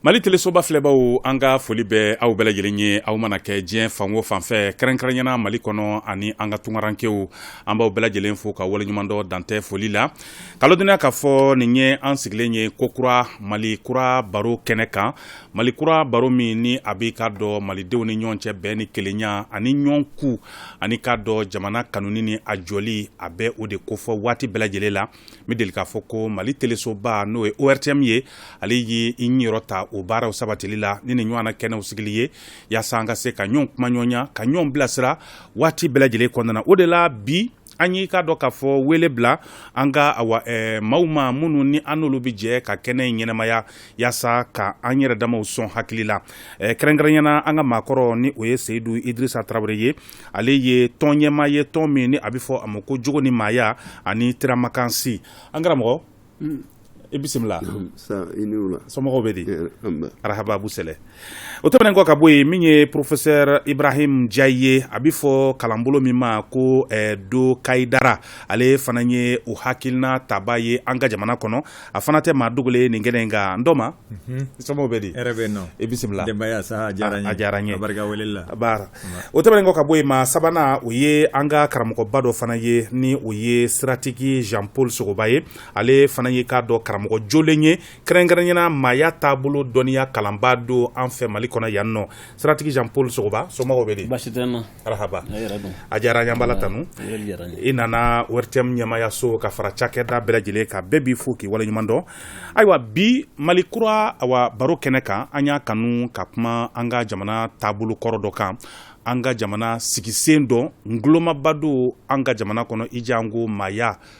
Mali telesoba filɛbaaw an ka foli bɛ aw bɛɛ lajɛlen ye aw mana kɛ diɲɛ fan o fan fɛ kɛrɛnkɛrɛnɲɛna Mali kɔnɔ ani an ka tunkarankew an b'aw bɛɛ lajɛlen fo ka waleɲumandɔn dantɛ foli la ka ladɔnniya k'a fɔ nin ye an sigilen ye kokura Mali kura baro kɛnɛ kan Mali kura baro min ni a b'i k'a dɔn malidenw ni ɲɔgɔn cɛ bɛn ni kelenya ani ɲɔgɔn ku ani k'a dɔn jamana kanuni ni a jɔli a bɛ o de kofɔ waati bɛɛ lajɛlen la. n bɛ deli k'a fɔ ko mali telesoba n'o ye ORTM ye ale ye i niyɔrɔ ta o baaraw sabatili la ni nin ɲɔgɔnna kɛnɛw sigili ye yaasa an ka se ka ɲɔgɔn kumaɲɔgɔnya ka ɲɔgɔn bilasira waati bɛɛ lajɛlen kɔnɔna na o de la bi an y'i k'a dɔn k'a fɔ wele bila an ka awa maaw ma minnu ni an n'olu bɛ jɛ ka kɛnɛ in ɲɛnamaya yaasa ka an yɛrɛ damaw sɔn hakili la eh, kɛrɛnkɛrɛnyana an ka maakɔrɔ ni o ye seyidu idrisa tarawele ye ale ye tɔn ɲɛmaa ye tɔn min ni a bɛ fɔ a ma ko jogo ni maaya ani tiramakansi an karamɔgɔ mm. i bisimila somɔgɔw bɛ di arahaba bu sɛlɛ o tɛmɛnen kɔ ka bɔ yen min ye professeur ibrahim jayi ye a bɛ fɔ kalanbolo min ma ko eh, do kayidara ale fana ye o hakilina tabaa ye an ka jamana kɔnɔ a fana tɛ maa dogolen ye nin kɛnɛ in kan n doma somɔgɔw bɛ di hɛrɛ bɛ yen nɔ i bisimila denbaya sa a diyara n ye a diyara n ye barika wele la baara o tɛmɛnen kɔ ka bɔ yen maa sabanan o ye an ka karamɔgɔba dɔ fana ye ni o ye siratigi Jean Paul Sogoba ye ale fana ye k'a dɔn karamɔgɔ jolen ye kɛrɛnkɛrɛnyana maaya taabolo dɔnniya kalanbaa don an fɛ Mali kɔnɔ yan nɔ siratigi Jean Paul Sogoba somɔgɔw bɛ di baasi tɛ n na arahaba a diyara n ye an b'ala tanu i nana ORTM ɲɛmaayaso ka fara cakɛda bɛɛ lajɛlen kan bɛɛ b'i fo k'i waleɲuman dɔn ayiwa bi mali kura awa baro kɛnɛ kan an y'a kanu ka kuma an ka jamana taabolo kɔrɔ dɔ kan an ka jamana sigisen don ngulomaba don an ka jamana kɔnɔ i janko maaya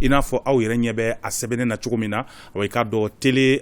i n'a fɔ aw yɛrɛ ɲɛ bɛ a sɛbɛnnen na cogo min na wa i k'a dɔn tele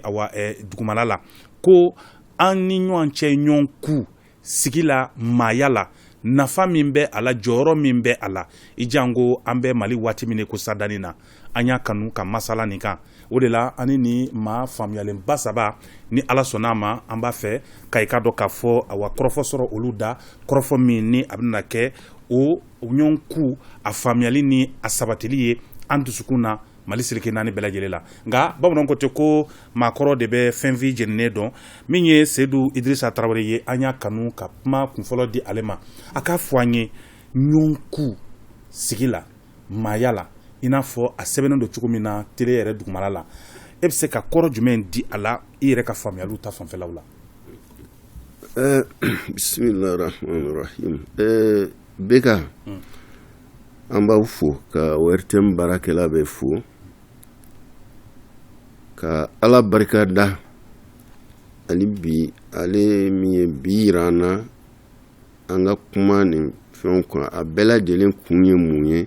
dugumala la ko an ni ɲɔgɔn cɛ ɲɔgɔn ku sigi la maaya la nafa min bɛ a la jɔyɔrɔ min bɛ a la i janko an bɛ mali waati min ko sadani na an y'a kanu ka masala nin kan o de la ani ni maa faamuyalenba saba ni ala sɔnna a ma an b'a fɛ ka i k'a dɔn k'a fɔ awa kɔrɔfɔ sɔrɔ olu da kɔrɔfɔ min ni a bɛna kɛ o O ɲɔgɔn ku a faamuyali ni a sabatili ye an dusukun na mali seleke naani bɛɛ lajɛlen la nka bamananw ko ten ko maakɔrɔ de bɛ fɛn fin jeninen dɔn min ye seyidu idrisa tarawele ye an y'a kanu ka kuma kunfɔlɔ di ale ma a k'a fɔ an ye ɲɔgɔn ku sigi la maaya la i n'a fɔ a sɛbɛnnen don cogo min na tele yɛrɛ dugumala la e bɛ se ka kɔrɔ jumɛn di a la i yɛrɛ ka faamuyaliw ta fanfɛlaw la Eh, bisimilahi rahamani rahim eh, beka hmm. an b'aw fo ka ORTM baarakɛla bɛɛ fo ka ala barika da hali bi ale min ye bi yira an na an ka kuma nin fɛnw kan a bɛɛ lajɛlen kun ye mun ye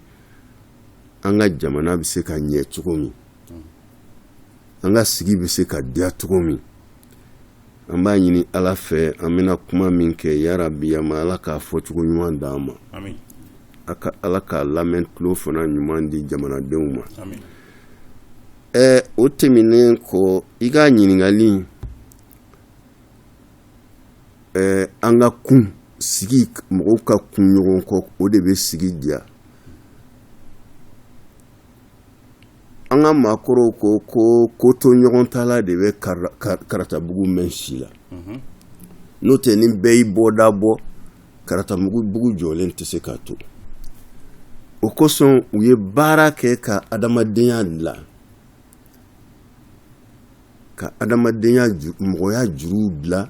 an ka jamana bɛ se ka ɲɛ cogo min an ka sigi bɛ se ka diya cogo min an b'a ɲini ala fɛ an bɛna kuma min kɛ yarabi an ma ala k'a fɔ cogo ɲuman d'an ma amin ala k'a lamɛn tulo fana ɲuman di jamanadenw ma ɛ o tɛmɛnen kɔ i ka ɲininkali ɛ an ka kun sigi mɔgɔw ka kun ɲɔgɔn kɔ o de bɛ sigi diya an ka maakɔrɔw ko ko kotoɲɔgɔntala de bɛ karatabugu mɛn si la n'o tɛ ni bɛɛ y'i bɔda bɔ karatabugu jɔlen tɛ se ka to o kosɔn u ye baara kɛ ka adamadenya dilan ka adamadenya mɔgɔya juruw dilan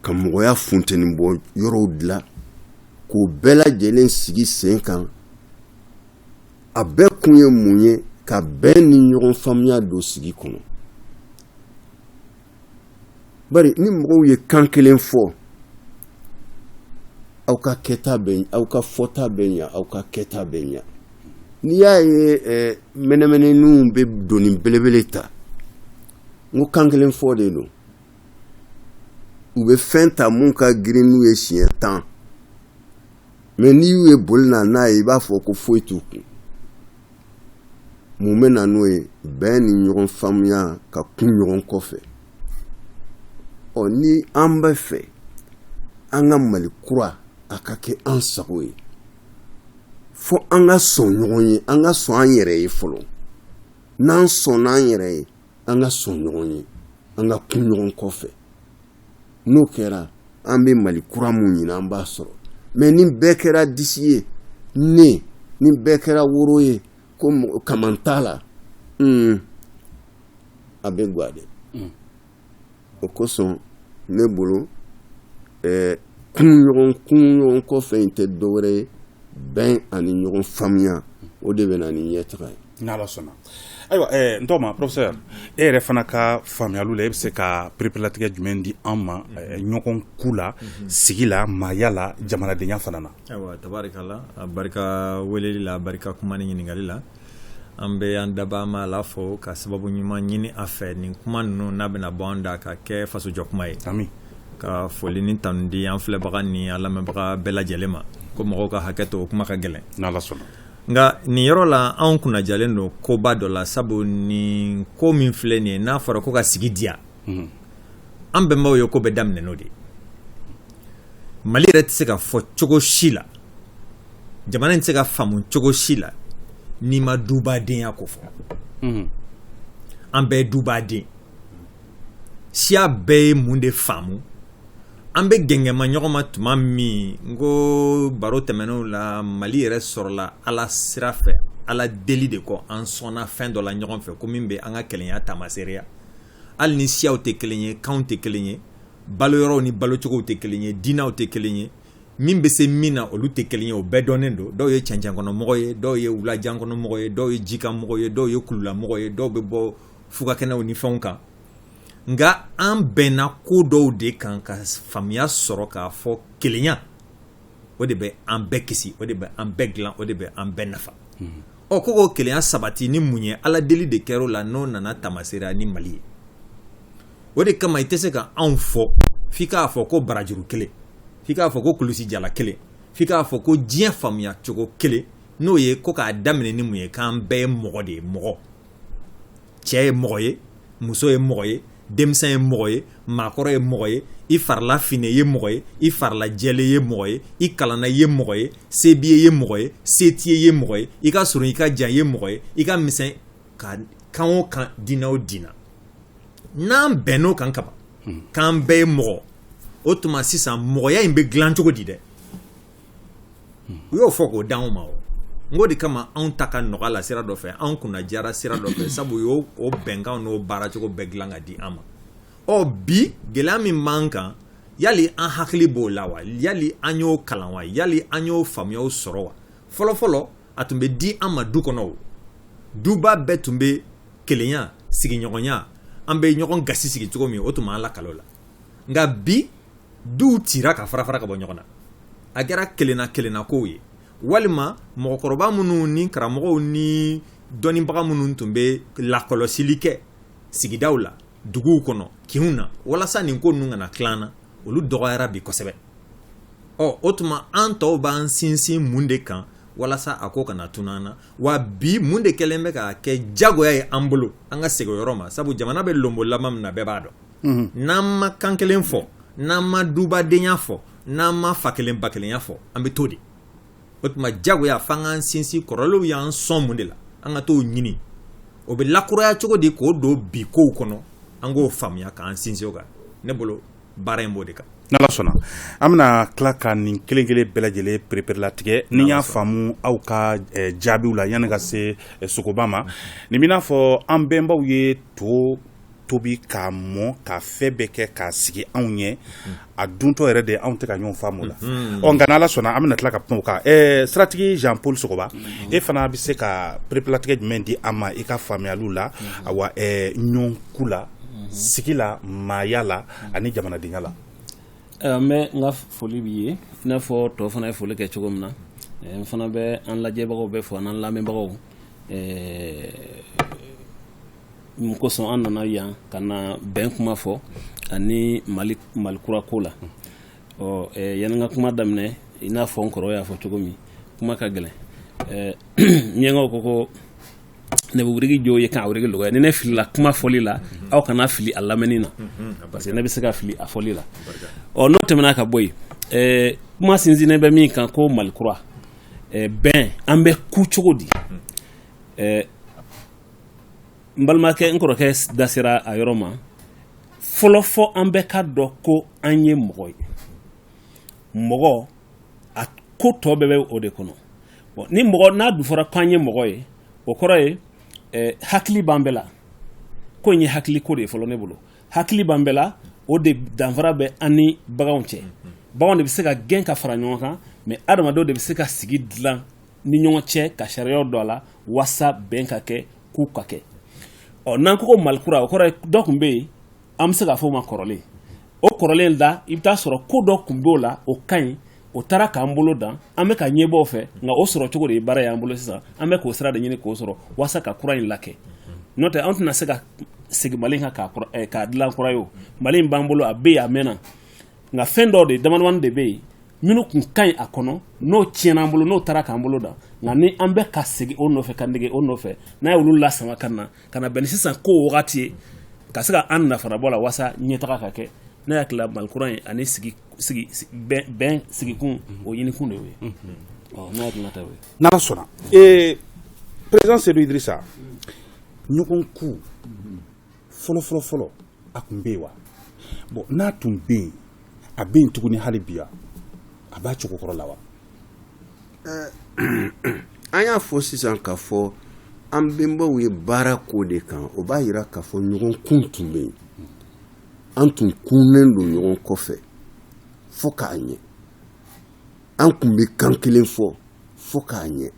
ka mɔgɔya funteni bɔ yɔrɔw dilan k'o bɛɛ lajɛlen sigi sen kan a bɛɛ kun ye mun ye ka bɛn ni ɲɔgɔn faamuya don sigi kɔnɔ bari ni mɔgɔw ye kan kelen fɔ aw ka kɛta bɛ aw ka fɔta bɛ ɲa aw ka kɛta bɛ ɲa n'i y'a ye eh, mɛnɛmɛnɛninw bɛ doni belebele ta n ko kan kelen fɔ de don u bɛ fɛn ta mun ka girin n'u ye siɲɛ tan mɛ n'i y'u ye boli na n'a ye i b'a fɔ ko foyi t'u kun mun bɛ na n'o ye bɛn ni ɲɔgɔn faamuya ka kun ɲɔgɔn kɔfɛ ɔ ni an bɛ fɛ an ka mali kura a ka kɛ an sago ye fo an ka sɔn ɲɔgɔn ye an ka sɔn an yɛrɛ ye fɔlɔ n'an sɔnna an yɛrɛ ye an ka sɔn ɲɔgɔn ye an ka kun ɲɔgɔn kɔfɛ n'o kɛra an bɛ mali kura min ɲini an b'a sɔrɔ mɛ ni bɛɛ kɛra disi ye ne ni bɛɛ kɛra woro ye ko kaman t'a la a bɛ goya dɛ o kosɔn ne bolo kun ɲɔgɔn kun ɲɔgɔn kɔfɛ in tɛ dɔwɛrɛ ye bɛn ani ɲɔgɔn faamuya o de bɛ na ni ɲɛtaga ye N'Ala sɔnna ayiwa n tɔgɔma professeur e yɛrɛ fana ka faamuyali la e bɛ se ka pereperelatigɛ jumɛn di an ma ɲɔgɔn ku la sigi la maaya la jamanadenya fana na ayiwa tabarikala a barika weleli la a barika kuma ni ɲininkakali la an bɛ an dabaa Ma Ala fo ka sababu ɲuman ɲini a fɛ nin kuma ninnu n'a bɛna bɔ an da ka kɛ fasojɔ kuma ye amin ka foli ni tanu di an filɛbaga ni an lamɛnbaga bɛɛ lajɛlen ma ko mɔgɔw ka hakɛ to kuma ka gɛlɛn n'Ala sɔnna Nka nin yɔrɔ la anw kunna diyalen don koba dɔ la sabu nin ko min filɛ nin ye n'a fɔra ko ka sigi diya an bɛnbaw ye ko bɛ daminɛ n'o de mali yɛrɛ tɛ se ka fɔ cogo si la jamana in tɛ se ka faamu cogo si la n'i ma dubadenya ko fɔ an bɛɛ ye dubaden siya bɛɛ ye mun de faamu an bɛ gɛngɛma ɲɔgɔn ma tuma min n ko baro tɛmɛnenw la mali yɛrɛ sɔrɔla ala sira fɛ ala deli de kɔ an sɔnna fɛn dɔ la ɲɔgɔn fɛ ko min bɛ an ka kelenya taamaseereya hali ni siyaw tɛ kelen ye kanw tɛ kelen ye baloyɔrɔw ni balocogow tɛ kelen ye diinɛw tɛ kelen ye min bɛ se min na olu tɛ kelen ye o bɛɛ dɔnnen don dɔw ye cɛncɛnkɔnɔmɔgɔ ye dɔw ye wulajankɔnɔmɔgɔ ye dɔw ye jikanmɔgɔ ye dɔw ye kululamɔgɔ ye dɔw bɛ bɔ fugakɛnɛw ni fɛnw kan nka an bɛnna ko dɔw de kan ka faamuya sɔrɔ k'a fɔ kelenya o de bɛ an bɛɛ kisi o de bɛ an bɛɛ dilan o de bɛ an bɛɛ nafa hmm. ɔ ko k'o kelenya sabati ni mun ye ala deli de kɛra o la n'o nana taamaseereya ni mali ye o de kama i tɛ se ka anw fɔ f'i k'a fɔ ko barajuru kelen f'i k'a fɔ ko kulusi jala kelen f'i k'a fɔ ko diɲɛ faamuya cogo kelen n'o ye ko k'a daminɛ ni mun ye k'an bɛɛ ye mɔgɔ de ye mɔgɔ cɛ ye mɔgɔ ye muso ye mɔgɔ ye denmisɛn ye mɔgɔ ye maakɔrɔ ye mɔgɔ ye i farila finnen ye mɔgɔ ye i farila jɛlen ye mɔgɔ ye i kalanna ye mɔgɔ ye se b'i ye ye mɔgɔ ye se t'i ye ye mɔgɔ ye i ka surun i ka jan ye mɔgɔ ye i ka misɛn ka kan o kan diinɛ o diinɛ n'an bɛnn'o kan kaban k'an bɛɛ ye mɔgɔ o tuma sisan mɔgɔya in bɛ dilan cogo di dɛ u y'o fɔ k'o di anw ma o n k'o de kama anw ta ka nɔgɔ a la sira dɔ fɛ anw kunna diyara sira dɔ fɛ sabu u y'o bɛnkanw n'o baaracogo bɛɛ dilan ka di an ma ɔ bi gɛlɛya min b'an kan yali an hakili b'o la wa yali an y'o kalan wa yali an y'o faamuyaw sɔrɔ wa fɔlɔfɔlɔ a tun bɛ di an ma du kɔnɔ o duba bɛɛ tun bɛ kelenya sigiɲɔgɔnya an bɛ ɲɔgɔn gasi sigi cogo min o tun b'an lakalan o la nka bi duw cira ka fara fara ka bɔ ɲɔgɔn na a kɛra kelenna kelenna kow ye walima mɔgɔkɔrɔba minnu ni karamɔgɔw ni dɔnnibaga minnu tun bɛ lakɔlɔsili kɛ sigidaw la duguw kɔnɔ kinw na walasa nin ko ninnu kana tila an na olu dɔgɔyara bi kosɛbɛ ɔ o tuma an tɔw b'an sinsin mun de kan walasa a ko kana tunu an na wa bi mun de kɛlen bɛ k'a kɛ jagoya ye an bolo an ka segin o yɔrɔ ma sabu jamana bɛ lonbolanba min na bɛɛ b'a dɔn n'an ma kan kelen fɔ n'an ma dubadenya fɔ n'an ma fa kelen ba kelenya fɔ an bɛ to de o tuma jagoya f'an k'an sinsin kɔrɔlenw y'an sɔn mun de la an ka t'o ɲini o bɛ lakuraya cogo di k'o don bi kow kɔnɔ an k'o faamuya k'an sinsin o kan ne bolo baara in b'o de kan n'ala sɔnna an bɛna tila ka nin kelenkelen bɛɛ lajɛlen pereperelatigɛ n'i y'a faamu aw ka eh, jaabiw la yanni ka se eh, sogoba ma nin b'i n'a fɔ an bɛnbaw ye to tobi k'a mɔ ka fɛn bɛɛ kɛ k'a sigi anw ɲɛ a duntɔ yɛrɛ de anw tɛ ka ɲɔgɔn faamu la mhm. ɔ nka n'ala sɔnna an bɛna tila ka kuma o kan siratigi jean paul sogoba mhm. e fana bɛ se ka pereperelatigɛ jumɛn di an ma i ka faamuyali la mhm. awa ɲɔgɔn ku la sigi la maaya la ani jamanadenya la n bɛ n ka foli b'i ye i n'a fɔ tɔ fana ye foli kɛ cogo min na n fana bɛ an lajɛbagaw bɛɛ fo an lamɛnbagaw mun kosɔn an nana yan ka na bɛn kuma fɔ ani mali mali kura ko la ɔ eh, yanni n ka kuma daminɛ i n'a fɔ n kɔrɔ y'a fɔ cogo min kuma ka gɛlɛn eh, miɲankaw ko ko ne bɛ wurigi jo ye k'a wurigi lɔgɔya ni ne filila kuma fɔli la aw kana fili a lamɛnni na parce que ne bɛ se ka fili a fɔli la ɔ n'o tɛmɛna ka bɔ yen eh, kuma sinsinnen bɛ min kan ko mali kura eh, bɛn an bɛ ku cogo di eh, n balimakɛ n kɔrɔkɛ da sera a yɔrɔ ma fɔlɔ fɔ an bɛɛ k'a dɔn ko an ye mɔgɔ ye mɔgɔ a ko tɔ bɛɛ bɛ o de kɔnɔ ni mɔgɔ n'a dun fɔra ko an ye mɔgɔ ye o kɔrɔ ye eh, hakili b'an bɛɛ la ko in ye hakili ko de ye fɔlɔ ne bolo hakili b'an bɛɛ la o de danfara bɛ an ni baganw cɛ baganw de bɛ se ka gɛn ka fara ɲɔgɔn kan mais adamadenw de bɛ se ka sigi dilan ni ɲɔgɔn cɛ ka sariyaw don a la walasa bɛn ka kɛ ku ka kɛ ɔ n'an ko ko malikura o kɔrɔ ye dɔ tun bɛ yen an bɛ se k'a fɔ o ma kɔrɔlen o kɔrɔlen da i bɛ t'a sɔrɔ ko dɔ tun b'o la o ka ɲi o taara k'an bolo dan an bɛ ka ɲɛbɔ o fɛ nka o sɔrɔ cogo de ye baara y'an bolo sisan an bɛ k'o sira de ɲini k'o sɔrɔ walasa ka kura in lakɛ n'o tɛ an tɛna se ka segin mali kan k'a eh, dilan kura ye o mali in b'an bolo a bɛ yen a mɛnna nka fɛn dɔ de damadamani de bɛ yen minnu tun ka ɲi a kɔnɔ n'o tiɲɛna an bolo n'o taara k'an bolo dan nka ni an bɛ ka segin o nɔfɛ ka nege o nɔfɛ n'an ye olu lasama ka na ka na bɛn ni sisan ko wagati ye ka se ka an nafa bɔ la walasa ɲɛtaga ka kɛ ne hakili la malikura ye ani bɛn sigikun o ɲinikun de ye n sɔnna président Seydou Idrissa ɲɔgɔn kun fɔlɔfɔlɔfɔlɔ a tun bɛ yen wa bon n'a tun bɛ yen a bɛ yen tuguni hali bi wa a b'a cogo kɔrɔ la wa an y'a fɔ sisan k'a fɔ an bɛnbaw ye baara k'o de kan o b'a jira k'a fɔ ɲɔgɔn kun tun bɛ yen an tun kunnen don ɲɔgɔn kɔfɛ fo k'a ɲɛ an tun bɛ kan kelen fɔ fo k'a ɲɛ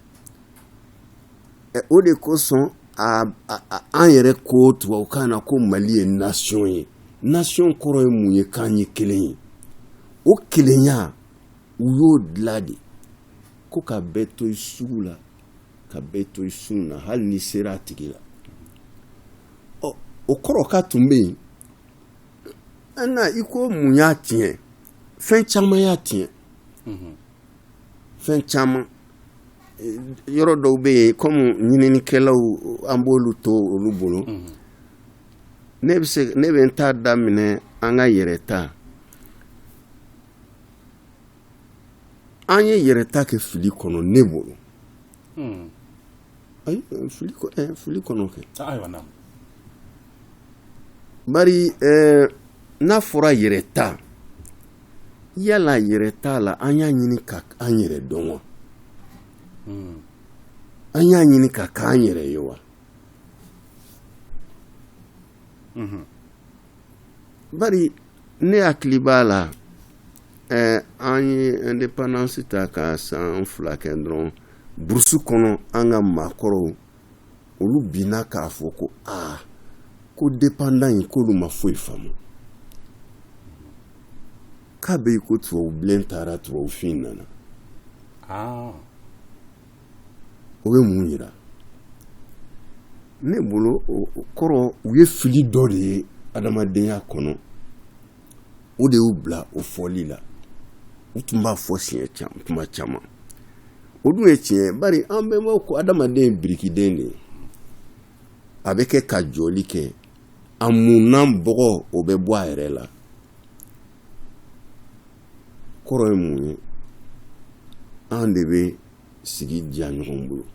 o de kosɔn an yɛrɛ ko tubabukan na ko mali ye nasiɔn ye nasiɔn kɔrɔ ye mun ye k'an ye kelen ye o kelenya u y'o dilan de ko ka bɛɛ to i sugu la ka bɛɛ to i sun na hali n'i sera a tigi la ɔ o kɔrɔ k'a tun bɛ yen an i ko mun y'a tiɲɛ fɛn caman y'a tiɲɛ fɛn caman yɔrɔ dɔw bɛ yen kɔmi ɲininikɛlaw an b'olu to olu bolo ne bɛ se ne bɛ n ta daminɛ an ka yɛrɛta an ye yɛrɛta kɛ fili kɔnɔ ne bolo ayi fili eh, fili kɔnɔ kɛ ah, ayiwa na bari eh, n'a fɔra yɛrɛta yala yɛrɛta la an y'a ɲini ka an yɛrɛ dɔn wa hmm. an y'a ɲini ka k'an yɛrɛ ye wa mhm. bari ne hakili b'a la eh, an ye indépendance ta ka san fila kɛ dɔrɔn burusu kɔnɔ an ka maakɔrɔw olu binna k'a fɔ ko aa ko dependant in k'olu ma foyi faamu k'a bɛ i ko tubabu bilen taara tubabu fin nana ah. o bɛ mun jira ne bolo o kɔrɔ u ye fili dɔ de ye adamadenya kɔnɔ o de y'u bila o fɔli la u tun b'a fɔ siɲɛ tuma caman o dun ye tiɲɛ bari an bɛnbaw ko adamaden ye birikiden de ye a bɛ kɛ ka jɔli kɛ a munnan bɔgɔ o bɛ bɔ a yɛrɛ la kɔrɔ ye mun ye an de bɛ sigi diya ɲɔgɔn bolo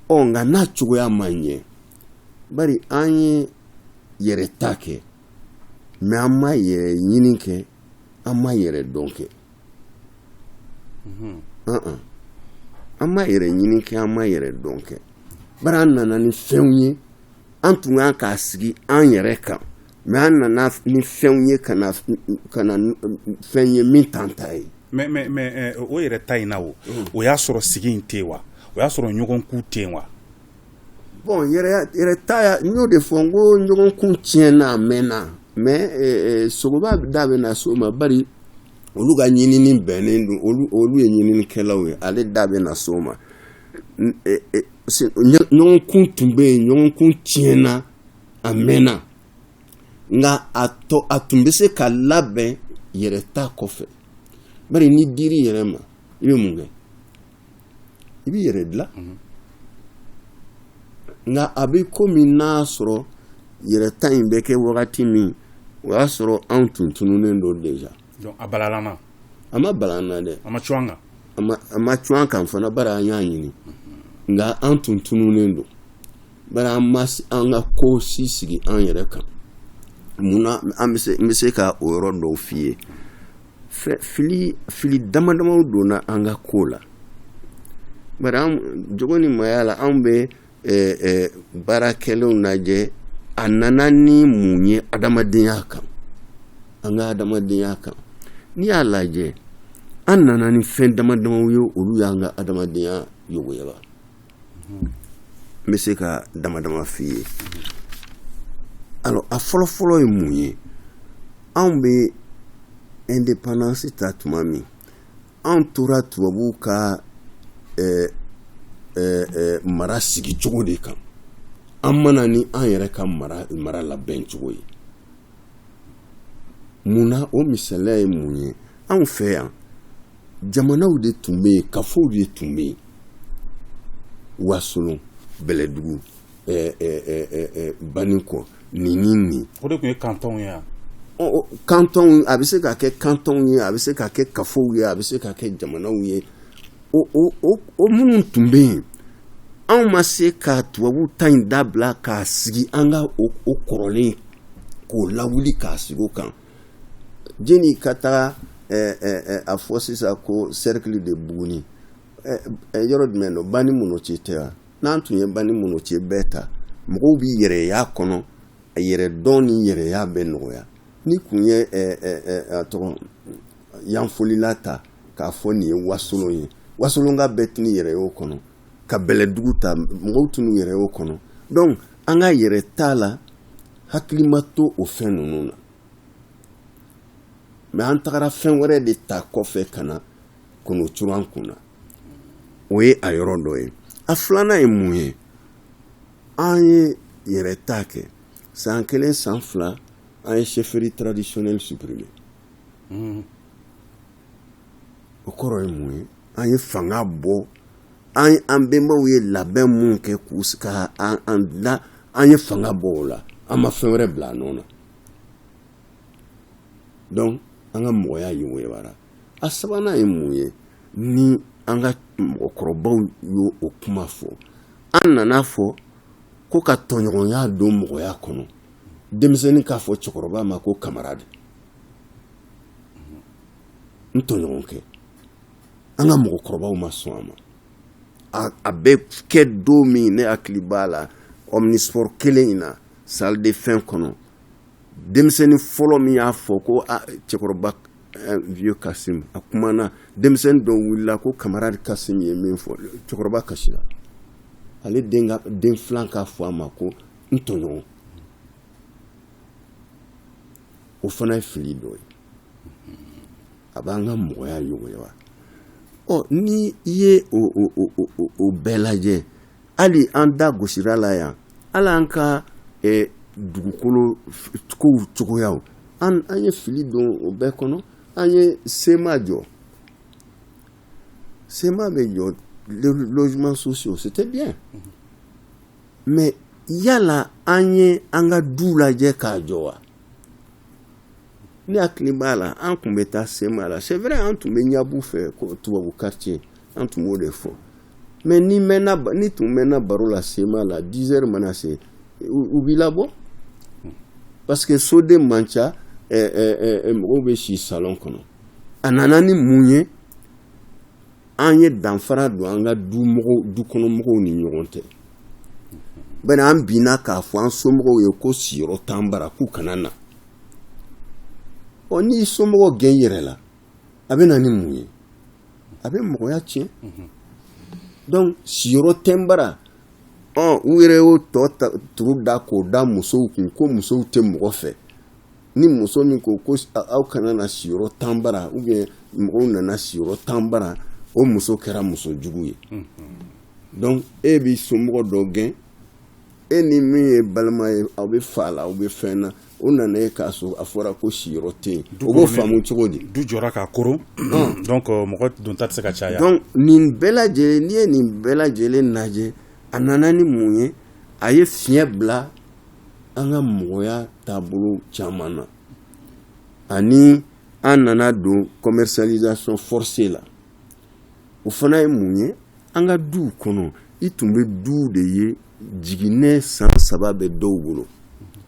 ɔ nka n'a cogoya ma ɲɛ bari an ye yɛrɛ ta kɛ mɛ an ma yɛrɛ ɲini kɛ an ma yɛrɛ dɔn kɛ an ma yɛrɛ ɲini kɛ an ma yɛrɛ dɔn kɛ bari an nana ni fɛnw ye an tun ka kan k'a sigi an yɛrɛ kan mɛ an nana ni fɛnw ye ka na fɛn ye min t'an ta ye mɛ o yɛrɛ ta in na o o y'a sɔrɔ sigi in tɛ wa o y'a sɔrɔ ɲɔgɔnkun tɛ yen wa bɔn yɛrɛ ta n y'o de fɔ n ko ɲɔgɔnkun tiɲɛna a mɛnna mɛ sogoba da bɛna s'o ma bari olu ka ɲinini bɛnnen don olu ye ɲininikɛlaw ye ale da bɛna s'o ma ɲɔgɔnkun tun bɛ yen ɲɔgɔnkun tiɲɛna a mɛnna nka a a tun bɛ se ka labɛn yɛrɛ ta kɔfɛ bari n'i dir'i yɛrɛ ma i bɛ mun kɛ i b'i yɛrɛ dilan mhm. nka a bɛ komi n'a sɔrɔ yɛrɛ ta in bɛ kɛ wagati min o y'a sɔrɔ anw tun tununnen don deja Donc a balala ma? A ma bala an na dɛ. A ma cun an kan? A ma a ma cun an kan fana bari an y'a ɲini. Nka an tun tununnen don. Bari an ma an ka ko si sigi an yɛrɛ kan. Mun na an bɛ se n bɛ se ka o yɔrɔ dɔw f'i ye. Fɛn fili fili dama damaw donna an ka ko la. Bari an jogo ni maaya la anw bɛ baarakɛlaw lajɛ a nana ni mun ye adamadenya kan an ka adamadenya kan n'i y'a lajɛ an nana ni fɛn dama damaw ye olu y'an ka adamadenya yogoyaba n bɛ se ka dama dama f'i ye alors a fɔlɔ fɔlɔ ye mun ye anw bɛ indépendance ta tuma min an tora tubabuw ka mara sigi cogo de kan an ma na ni an yɛrɛ ka mara labɛn cogo ye mun na o misaliya ye mun ye anw fɛ yan jamanaw de tun bɛ yen kafow de tun bɛ yen wasolon bɛlɛdugu banikɔ nin nin o de tun ye kantonw ye kantonw a bɛ se ka kɛ kantonw ye a bɛ se ka kɛ kafow ye a bɛ se ka kɛ jamanaw ye o minnu tun bɛ yen anw ma se ka tubabu ta in dabila k'a sigi an ka o kɔrɔlen k'o lawuli k'a sigi o kan jeni ka taga a fɔ sisan ko sɛrikili de buguni yɔrɔ jumɛn don banimɔnɔcɛ tɛ wa n'an tun ye banimɔnɔcɛ bɛɛ ta mɔgɔw b'i yɛrɛ y'a kɔnɔ a yɛrɛdɔn ni yɛrɛya bɛ nɔgɔya n'i tun ye tɔgɔ yanfolila ta k'a fɔ nin ye wasolon ye wasolonka bɛɛ tun yɛrɛ y'o kɔnɔ ka bɛlɛdugu ta mɔgɔw tun yɛrɛ y'o kɔnɔ dɔnku an ka yɛrɛta la hakili ma to o fɛn ninnu na mɛ an tagara fɛn wɛrɛ de ta kɔfɛ ka na k'o turu an kun na o ye a yɔrɔ dɔ ye a filanan ye mun ye an ye yɛrɛta kɛ san kelen san fila an ye chefferie traditionnelle supprimer hmm. o kɔrɔ ye mun ye an ye fanga bɔ an an bɛnbaw ye labɛn minnu kɛ k'u ka an dilan an ye fanga bɔ o la an ma fɛn wɛrɛ bila a nɔ na donc an ka mɔgɔya yogoyabara a sabanan ye mun ye ni an ka mɔgɔkɔrɔbaw y'o o kuma fɔ an nana a fɔ ko ka tɔɲɔgɔnya don mɔgɔya kɔnɔ denmisɛnnin k'a fɔ cɛkɔrɔba ma ko camarade n tɔɲɔgɔn kɛ an ka mɔgɔkɔrɔbaw ma sɔn a ma a bɛ kɛ don min ne hakili b'a la omnisport kelen in na salle de fɛn kɔnɔ denmisɛnnin fɔlɔ min y'a fɔ ko ah, cɛkɔrɔba eh, vieux Kassim a kumana denmisɛnnin dɔ wulila ko camarade Kassim ye min fɔ cɛkɔrɔba kasira ale den filan k'a fɔ a ma ko n tɔɲɔgɔn o fana ye fili dɔ ye a b'an ka mɔgɔya yogoyaba ɔ ni i ye o bɛɛ lajɛ hali an da gosira la yan hali an ka dugukolo kow cogoya an ye fili don o bɛɛ kɔnɔ an ye sema jɔ sema bɛ jɔ logements sociaux c'était bien mais yala an ye an ka du lajɛ k'a jɔ wa ne hakili b'a la an tun bɛ taa sema la c'est vrai an tun bɛ ɲab'u fɛ tubabu quartier an tun b'o de fɔ mais n'i mɛnna n'i tun mɛnna baro la sema la dix heures mana se u b'i labɔ parce que soden man ca mɔgɔw bɛ si salon kɔnɔ a nana ni mun ye an ye danfara don an ka du mɔgɔw dukɔnɔmɔgɔw ni ɲɔgɔn cɛ bari an binna k'a fɔ an somɔgɔw ye ko siyɔrɔ t'an bara k'u kana na ɔ n'i somɔgɔw gɛn yɛrɛ la a bɛ na ni mun ye a bɛ mɔgɔya tiɲɛ donc siyɔrɔ tɛ n bara u yɛrɛ y'o tɔ turu da k'o da musow kun ko musow tɛ mɔgɔ fɛ ni muso min ko ko aw kana na siyɔrɔ t'an bara ou bien mɔgɔw nana siyɔrɔ t'an bara o muso kɛra muso jugu ye donc e b'i somɔgɔ dɔ gɛn e ni min ye balima ye aw bɛ fa la aw bɛ fɛn na o nana yen k'a sɔrɔ a fɔra ko siyɔrɔ tɛ yen o b'o faamu cogo di du jɔra ka koron donc euh, mɔgɔ donta tɛ se ka caya donc nin bɛɛ lajɛlen n'i ye nin bɛɛ lajɛlen lajɛ a nana ni mun ye a ye fiɲɛ bila an ka mɔgɔya taabolo caman na ani an nana don commercialisation forcée la o fana ye mun ye an ka duw kɔnɔ i tun bɛ duw de ye jiginɛ san saba bɛ dɔw bolo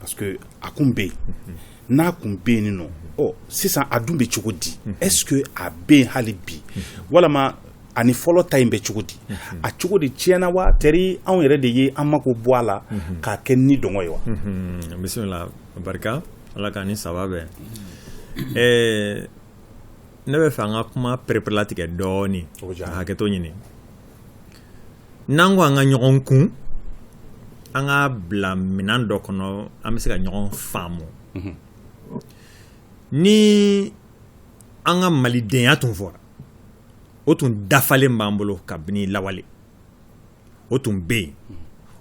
parce que a kun bɛ yen n'a kun bɛ yen nɔ ɔ sisan a dun bɛ cogo di est ce que a bɛ yen hali bi walama ani fɔlɔ ta in bɛ cogo di a cogo de tiɲɛna wa tɛri anw yɛrɛ de ye an mako bɔ a la k'a kɛ nidungɔ ye wa bisimila barika ala k'an ni saba bɛn ɛɛ ne bɛ fɛ an ka kuma pereperelatigɛ dɔɔnin hakɛto ɲini n'an ko an ka ɲɔgɔn kun an k'a bila minan dɔ kɔnɔ an bɛ se ka ɲɔgɔn faamu ni an ka malidenya tun fɔra o tun dafalen b'an bolo kabini lawale o tun bɛ yen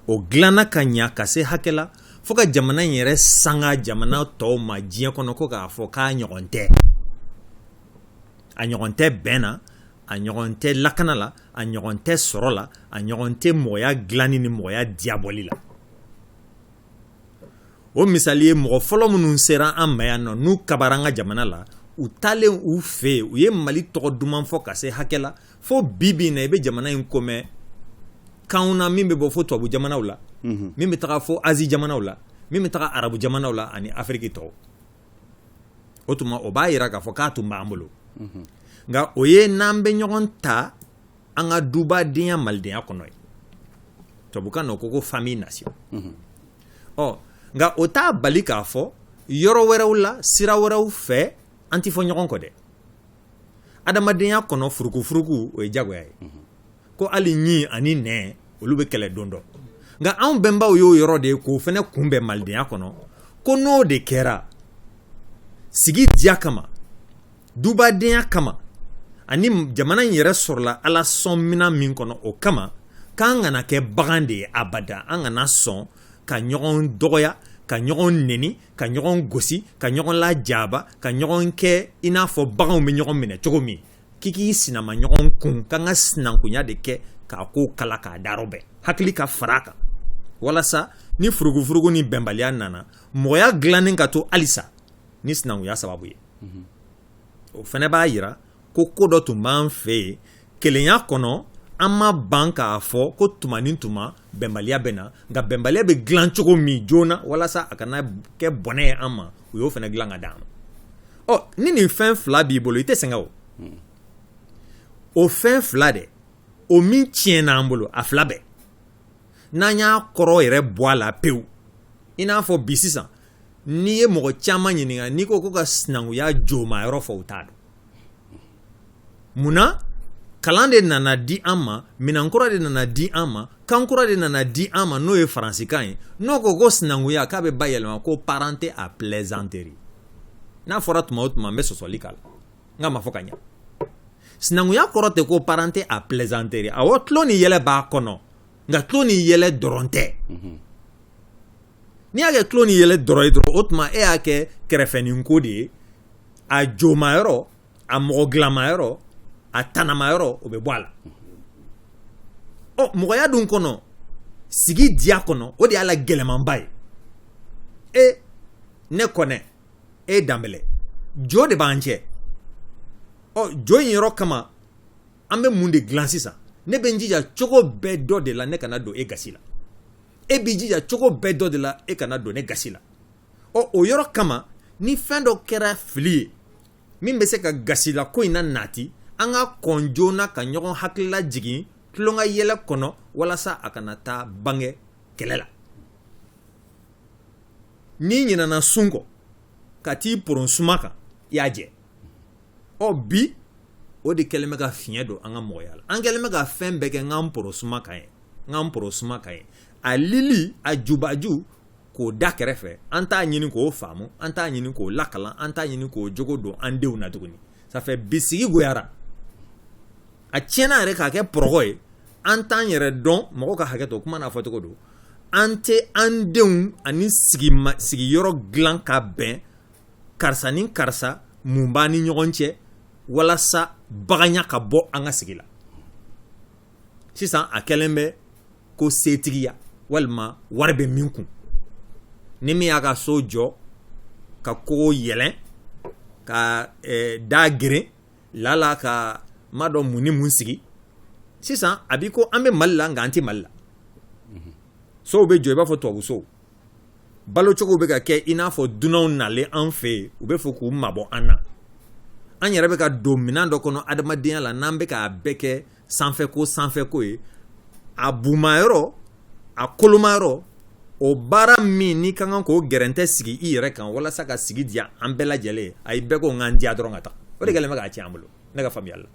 o dilanna ka ɲa ka se hakɛ la fo ka jamana in yɛrɛ sanga jamana tɔw ma diɲɛ kɔnɔ ko k'a fɔ k'a ɲɔgɔn tɛ a ɲɔgɔn tɛ bɛn na a ɲɔgɔn tɛ lakana la a ɲɔgɔn tɛ sɔrɔ la a ɲɔgɔn tɛ mɔgɔya dilanni ni mɔgɔya diyabɔli la o misali ye mɔgɔ fɔlɔ minnu sera an ma yan nɔ n'u kabara an ka jamana la u taalen u fɛ yen u ye mali tɔgɔ duman fɔ ka se hakɛ la fo bi bi na i bɛ jamana in ko mɛn kanw na min bɛ bɔ fo tubabu jamanaw la min bɛ taga fo azi jamanaw la min bɛ taga arabu jamanaw la ani afiriki tɔw o tuma o b'a yira k'a fɔ k'a tun b'an bolo nka o ye n'an bɛ ɲɔgɔn ta an ka dubadenya malidenya kɔnɔ ye tubabukan na o ko ko famille nation ɔ nka o t'a bali k'a fɔ yɔrɔ wɛrɛw la sira wɛrɛw fɛ an ti fɔ ɲɔgɔn kɔ dɛ adamadenya kɔnɔ furukufuruku o ye jagoya ye ko hali ɲi ani nɛn olu bɛ kɛlɛ don dɔ nka anw bɛnbaw y'o yɔrɔ de ye k'o fɛnɛ kunbɛn malidenya kɔnɔ ko n'o de kɛra sigi diya kama dubadenya kama ani jamana in yɛrɛ sɔrɔla ala sɔn minan min kɔnɔ o kama k'an kana kɛ bagan de ye abada an kana sɔn ka ɲɔgɔn dɔgɔya ka ɲɔgɔn neni ka ɲɔgɔn gosi ka ɲɔgɔn lajaba ka ɲɔgɔn kɛ i n'a fɔ baganw bɛ ɲɔgɔn minɛ cogo min k'i k'i sinama ɲɔgɔn kun k'an ka sinankunya de kɛ k'a ko kala k'a darɔ bɛɛ hakili ka fara kan walasa ni furugufurugu ni bɛnbaliya nana mɔgɔya dilannen ka to halisa ni sinankunya sababu ye o fɛnɛ b'a yira ko ko dɔ tun b'an fɛ yen kelenya kɔnɔ an ma ban k'a fɔ ko tuma ni tuma bɛnbaliya bɛ na nka bɛnbaliya bɛ dilan cogo min joona walasa a kana kɛ bɔnɛ ye an ma u y'o fɛnɛ dilan ka d'an ma ɔ ni nin fɛn fila b'i bolo i tɛ sɛgɛn o o fɛn fila dɛ o min tiɲɛna an bolo a fila bɛɛ n'an y'a kɔrɔ yɛrɛ bɔ a la pewu i n'a fɔ bi sisan n'i ye mɔgɔ caman ɲininka n'i ko ko ka sinankunya jomayɔrɔ fɔ u t'a dɔn munna kalan de nana di an ma minan kura de nana di an ma kan kura de nana di an ma n'o ye faransikan ye n'o ko ko sinankunya k'a bɛ bayɛlɛma ko parenté à plaisanterie n'a fɔra tuma o tuma n bɛ sɔsɔli k'a la n k'a ma fɔ ka ɲɛ sinankunya kɔrɔ tɛ ko parenté à plaisanterie awɔ tulon ni yɛlɛ b'a kɔnɔ nka tulon ni yɛlɛ dɔrɔn tɛ mhm. n'i y'a kɛ tulon ni yɛlɛ dɔrɔn ye dɔrɔn o tuma e y'a kɛ kɛrɛfɛninko de ye a jomayɔrɔ a mɔgɔ dilanmayɔrɔ a tanamayɔrɔ o bɛ bɔ a la ɔ mɔgɔya dun kɔnɔ sigi diya kɔnɔ o de y'a la gɛlɛmanba ye e ne kɔnɛ e danbɛlɛ jo de b'an cɛ ɔ jo in yɔrɔ kama an bɛ mun de dilan sisan ne bɛ n jija cogo bɛɛ dɔ de la ne kana don e gasi la e b'i jija cogo bɛɛ dɔ de la e kana don ne gasi la ɔ o yɔrɔ kama ni fɛn dɔ kɛra fili ye min bɛ se ka gasila ko in na nati an ka kɔn joona ka ɲɔgɔn hakilila jigin tulonkɛ yɛlɛ kɔnɔ walasa a kana taa bange kɛlɛ la n'i ɲinana sun kɔ ka t'i poron suma kan i y'a jɛ ɔ bi o de kɛlen bɛ ka fiɲɛ don an ka mɔgɔya la an kɛlen bɛ ka fɛn bɛɛ kɛ n k'an poron suma kan ye n k'an poron suma kan ye a lili a jubaju k'o da kɛrɛfɛ an t'a ɲini k'o faamu an t'a ɲini k'o lakalan an t'a ɲini k'o jogo don an denw na tuguni ça fait bisigi goyara a tiɲɛna yɛrɛ k'a kɛ pɔrɔgɔ ye an t'an yɛrɛ dɔn mɔgɔ ka hakɛ to kuma n'a fɔcogo dɔn an tɛ an denw ani sigiyɔrɔ dilan ka bɛn karisa ni karisa mun b'a ni ɲɔgɔn cɛ walasa baganya ka bɔ an ka sigi la sisan a kɛlen bɛ ko setigiya walima wari bɛ min kun ni min y'a ka so jɔ ka kogo yɛlɛn ka eh, da geren laala k'a ma dɔn mun ni mun sigi sisan a b'i ko an bɛ mali la nka an tɛ mali la sow bɛ jɔ i b'a fɔ tubabu sow balocogo bɛ ka kɛ i n'a fɔ dunanw nalen an fɛ yen u bɛ fɔ k'u mabɔ an na an yɛrɛ bɛ ka don minɛn dɔ kɔnɔ adamadenya la n'an bɛ k'a bɛɛ kɛ sanfɛko sanfɛko ye a bumayɔrɔ a kolomayɔrɔ o baara min n'i ka kan k'o gɛrɛntɛ sigi i yɛrɛ kan walasa ka sigi diya an bɛɛ lajɛlen a ye bɛɛ ko n ka n diya dɔrɔn ka taa o de kɛlen bɛ k'a tiɲɛ an bolo ne ka faamuyali la.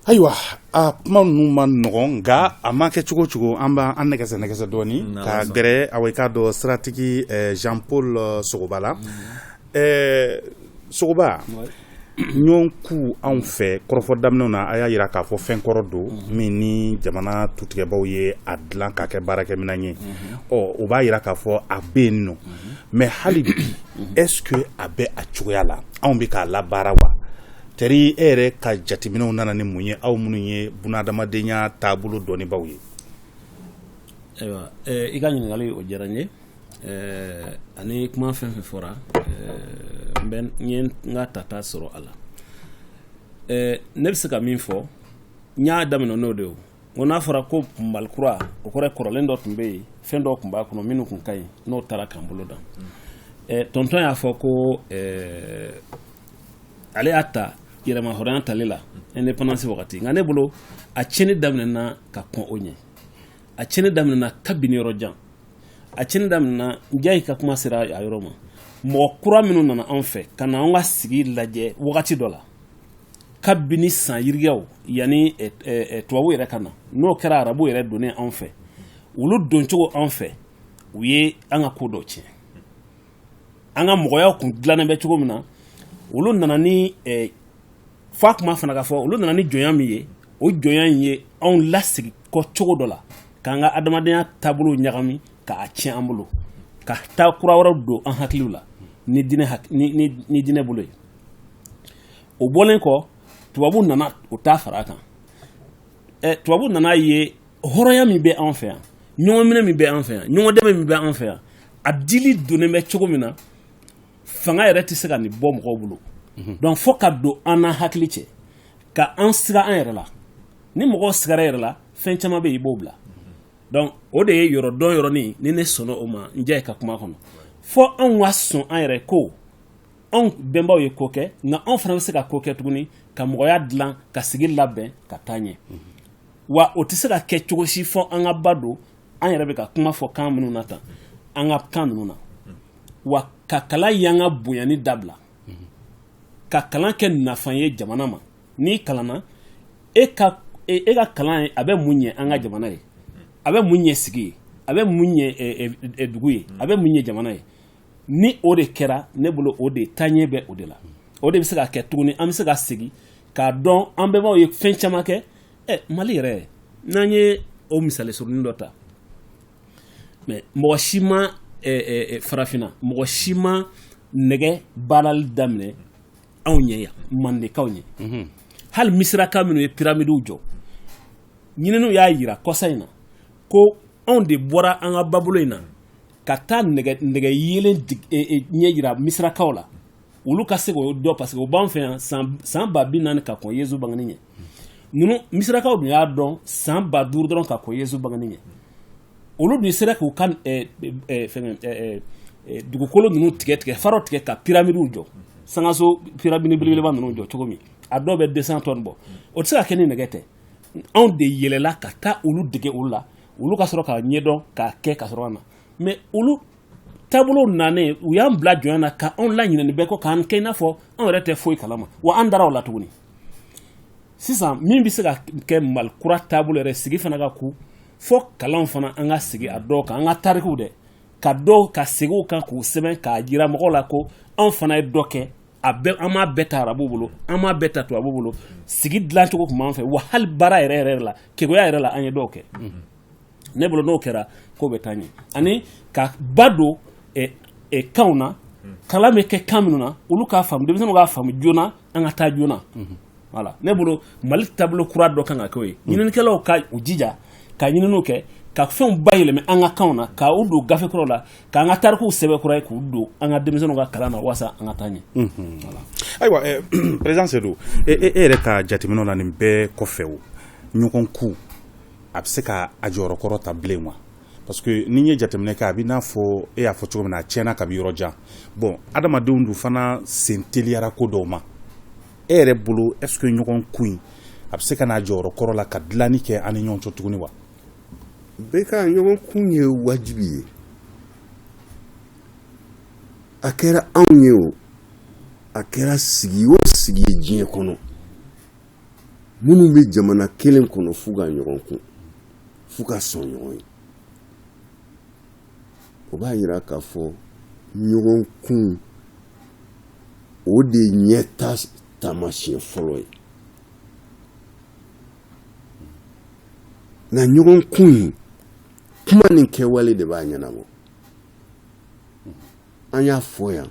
Ayiwa a kuma ninnu ma nɔgɔn nka a ma kɛ cogo cogo an b'an nɛgɛsɛ nɛgɛsɛ dɔɔnin ka gɛrɛ anw ka dɔn siratigi eh, Jean Paul eh, Sogoba la mm-hmm. eh, Sogoba ɲɔgɔn ku anw fɛ kɔrɔfɔ daminɛw na a y'a jira k'a fɔ fɛn kɔrɔ don mm-hmm. min ni jamana tutigɛbaw ye a dilan k'a kɛ baarakɛminɛn ye mm-hmm. ɔ o b'a jira k'a fɔ a bɛ yen nɔ mais hali bi est-ce que a bɛ a cogoya la anw bɛ k'a labaara wa teri e yɛrɛ ka jateminɛw nana ni mun ye aw minnu ye bunadamadenya taabolo dɔnnibaw ye ayiwa i ka ɲininkali o diyara n ye ani kuma fɛn fɛn fɔra n ye n ka tata sɔrɔ a la ne bɛ se ka min fɔ n y'a daminɛ n'o de O n'a fɔra ko Mali kura o kɔrɔ ye kɔrɔlen dɔ tun bɛ yen fɛn dɔ tun b'a kɔnɔ minnu tun ka ɲi n'o taara k'an bolo dan ɛ tonton y'a fɔ ko ɛɛ ale y'a ta yɛrɛmahɔrɔnya tali la indépendance wagati nka ne bolo a tiɲɛni daminɛna ka kɔn o ɲɛ a tiɲɛni daminɛna kabini yɔrɔ jan a tiɲɛni daminɛna Njayi ka kuma sera a yɔrɔ ma mɔgɔ kura minnu nana anw fɛ ka na anw ka sigi lajɛ wagati dɔ la kabini san yirikaw yanni eh, eh, eh, tubabu yɛrɛ ka na n'o kɛra arabu yɛrɛ donnen anw fɛ olu doncogo anw fɛ u ye an ka ko dɔ tiɲɛ an ka mɔgɔyaw kun dilannen bɛ cogo min na olu nana ni f'a kuma fana ka fɔ olu nana ni jɔnya min ye o jɔnya in ye anw lasigi kɔ cogo dɔ la k'an ka adamadenya taabolo ɲagami k'a tiɲɛ an bolo ka taa kura wɛrɛw don an hakiliw la ni diinɛ bolo ye o bɔlen kɔ tubabu nana o ta fara a kan ɛ tubabu nana a ye hɔrɔnya min bɛ an fɛ yan ɲɔgɔnminɛ min bɛ an fɛ yan ɲɔgɔn dɛmɛ min bɛ an fɛ yan a dili donnen bɛ cogo min na fanga yɛrɛ tɛ se ka nin bɔ mɔgɔw bolo mhm. donc fo ka don an n'an hakili cɛ ka an siga an yɛrɛ la ni mɔgɔw sigara yɛrɛ la fɛn caman bɛ yen i b'o bila donc o de ye yɔrɔ dɔn yɔrɔnin ni ne sɔnna o ma Njayi ka kuma kɔnɔ fo anw ka sɔn an yɛrɛ ko anw bɛnbaw ye ko kɛ nka anw fana bɛ se ka ko kɛ tuguni ka mɔgɔya dilan ka sigi labɛn ka taa ɲɛ wa o tɛ se ka kɛ cogo si fo an ka ba don an yɛrɛ bɛ ka kuma fɔ kan minnu na tan an ka kan ninnu na wa ka kalan yan ka bonyani dabila ka kalan kɛ nafa ye jamana ma n'i kalanna e ka e, e ka kalan ye a bɛ mun ɲɛ an ka jamana ye a bɛ mun ɲɛ sigi ye a bɛ mun ɲɛ e, e, dugu ye a bɛ mun ɲɛ jamana ye ni o de kɛra ne bolo o de taaɲɛ bɛ o de la o de bɛ se ka kɛ tuguni an bɛ se ka segin k'a dɔn an bɛnbaw ye fɛn caman kɛ ɛ mali yɛrɛ n'an ye o misali surunin dɔ ta mais mɔgɔ si ma farafinna mɔgɔ si ma nɛgɛ baarali daminɛ anw ɲɛ yan mandekaw ɲɛ mhm. hali misiraka minnu ye piramidiw jɔ ɲininiw y'a jira kɔsa in na ko anw de bɔra an ka babolo in na ka taa nɛgɛ yelen e, e, ɲɛ jira misirakaw la olu ka se k'o dɔn parce que o b'an fɛ yan san ba bi naani ka kɔn yezu bangeni ɲɛ ninnu misirakaw dun y'a dɔn san ba duuru dɔrɔn ka kɔn yezu bangeni ɲɛ olu dun sera k'u ka e, fɛnkɛ dugukolo ninnu tigɛ tigɛ faraw tigɛ ka piramidiw jɔ sangaso piramidi belebeleba ninnu jɔ cogo min a dɔw bɛ deux cents tonnes bɔ o tɛ se ka kɛ ni nɛgɛ tɛ anw de yɛlɛla ka taa olu dege olu la olu ka sɔrɔ k'a ɲɛdɔn k'a kɛ ka sɔrɔ ka na mais olu taabolo nanen u y'an bila jɔnya na ka anw laɲinɛ nin bɛɛ kɔ k'an kɛ i n'a fɔ anw yɛrɛ tɛ foyi kalama wa an dara o la tuguni sisan min bɛ se ka kɛ mali kura taabolo yɛrɛ sigi fana ka kun fo kalan fana an ka sigi a dɔw kan an ka tarikiw dɛ ka dɔw ka segin u kan k'u sɛbɛn k'a jira mɔgɔw la ko anw fana ye dɔ kɛ a an m'a bɛɛ ta arabu bolo an m'a bɛɛ ta tubabu bolo sigi dilancogo tun b'an fɛ wa hali baara yɛrɛ yɛrɛ la keguya yɛrɛ la an ye dɔw kɛ ne bolo n'o kɛra ko bɛ taa ɲɛ ani ka ba don kanw na kalan bɛ kɛ kan minnu na olu k'a faamu denmisɛnninw k'a faamu joona an ka taa joona voilà ne bolo mali taabolo kura dɔ kan ka kɛ o ye ɲininikɛlaw ka u jija ka ɲininiw kɛ ka fɛnw bayɛlɛma an ka kanw na ka u don gafe kura la k'an ka tarikuw sɛbɛn kura ye k'u don an ka denmisɛnninw ka kalan na walasa an ka taa ɲɛ ayiwa président Seydou e yɛrɛ ka jateminɛw la nin bɛɛ kɔfɛ o ɲɔgɔn kun a bɛ se k'a jɔyɔrɔ kɔrɔ ta bilen wa parce que n'i ye jateminɛ kɛ a b'i n'a fɔ e y'a fɔ cogo min na a tiɲɛna kabi yɔrɔ jan bon adamadenw dun fana sen teliyara ko dɔw ma e yɛrɛ bolo est ce que ɲɔgɔn kun in a bɛ se ka n'a jɔyɔrɔ kɔrɔ la ka dilanni kɛ an ni ɲɔgɔn cɛ tuguni wa bɛɛ ka ɲɔgɔn kun ye wajibi ye a kɛra anw ye o a kɛra sigi o sigi ye diɲɛ kɔnɔ minnu bɛ jamana kelen kɔnɔ f'u ka ɲɔgɔn kun f'u ka sɔn ɲɔgɔn ye o b'a yira k'a fɔ ɲɔgɔn kun o de ye ɲɛtaa taamasiyɛn fɔlɔ ye nka ɲɔgɔn kun in kuma ni kɛwale de b'a ɲɛnabɔ an y'a fɔ yan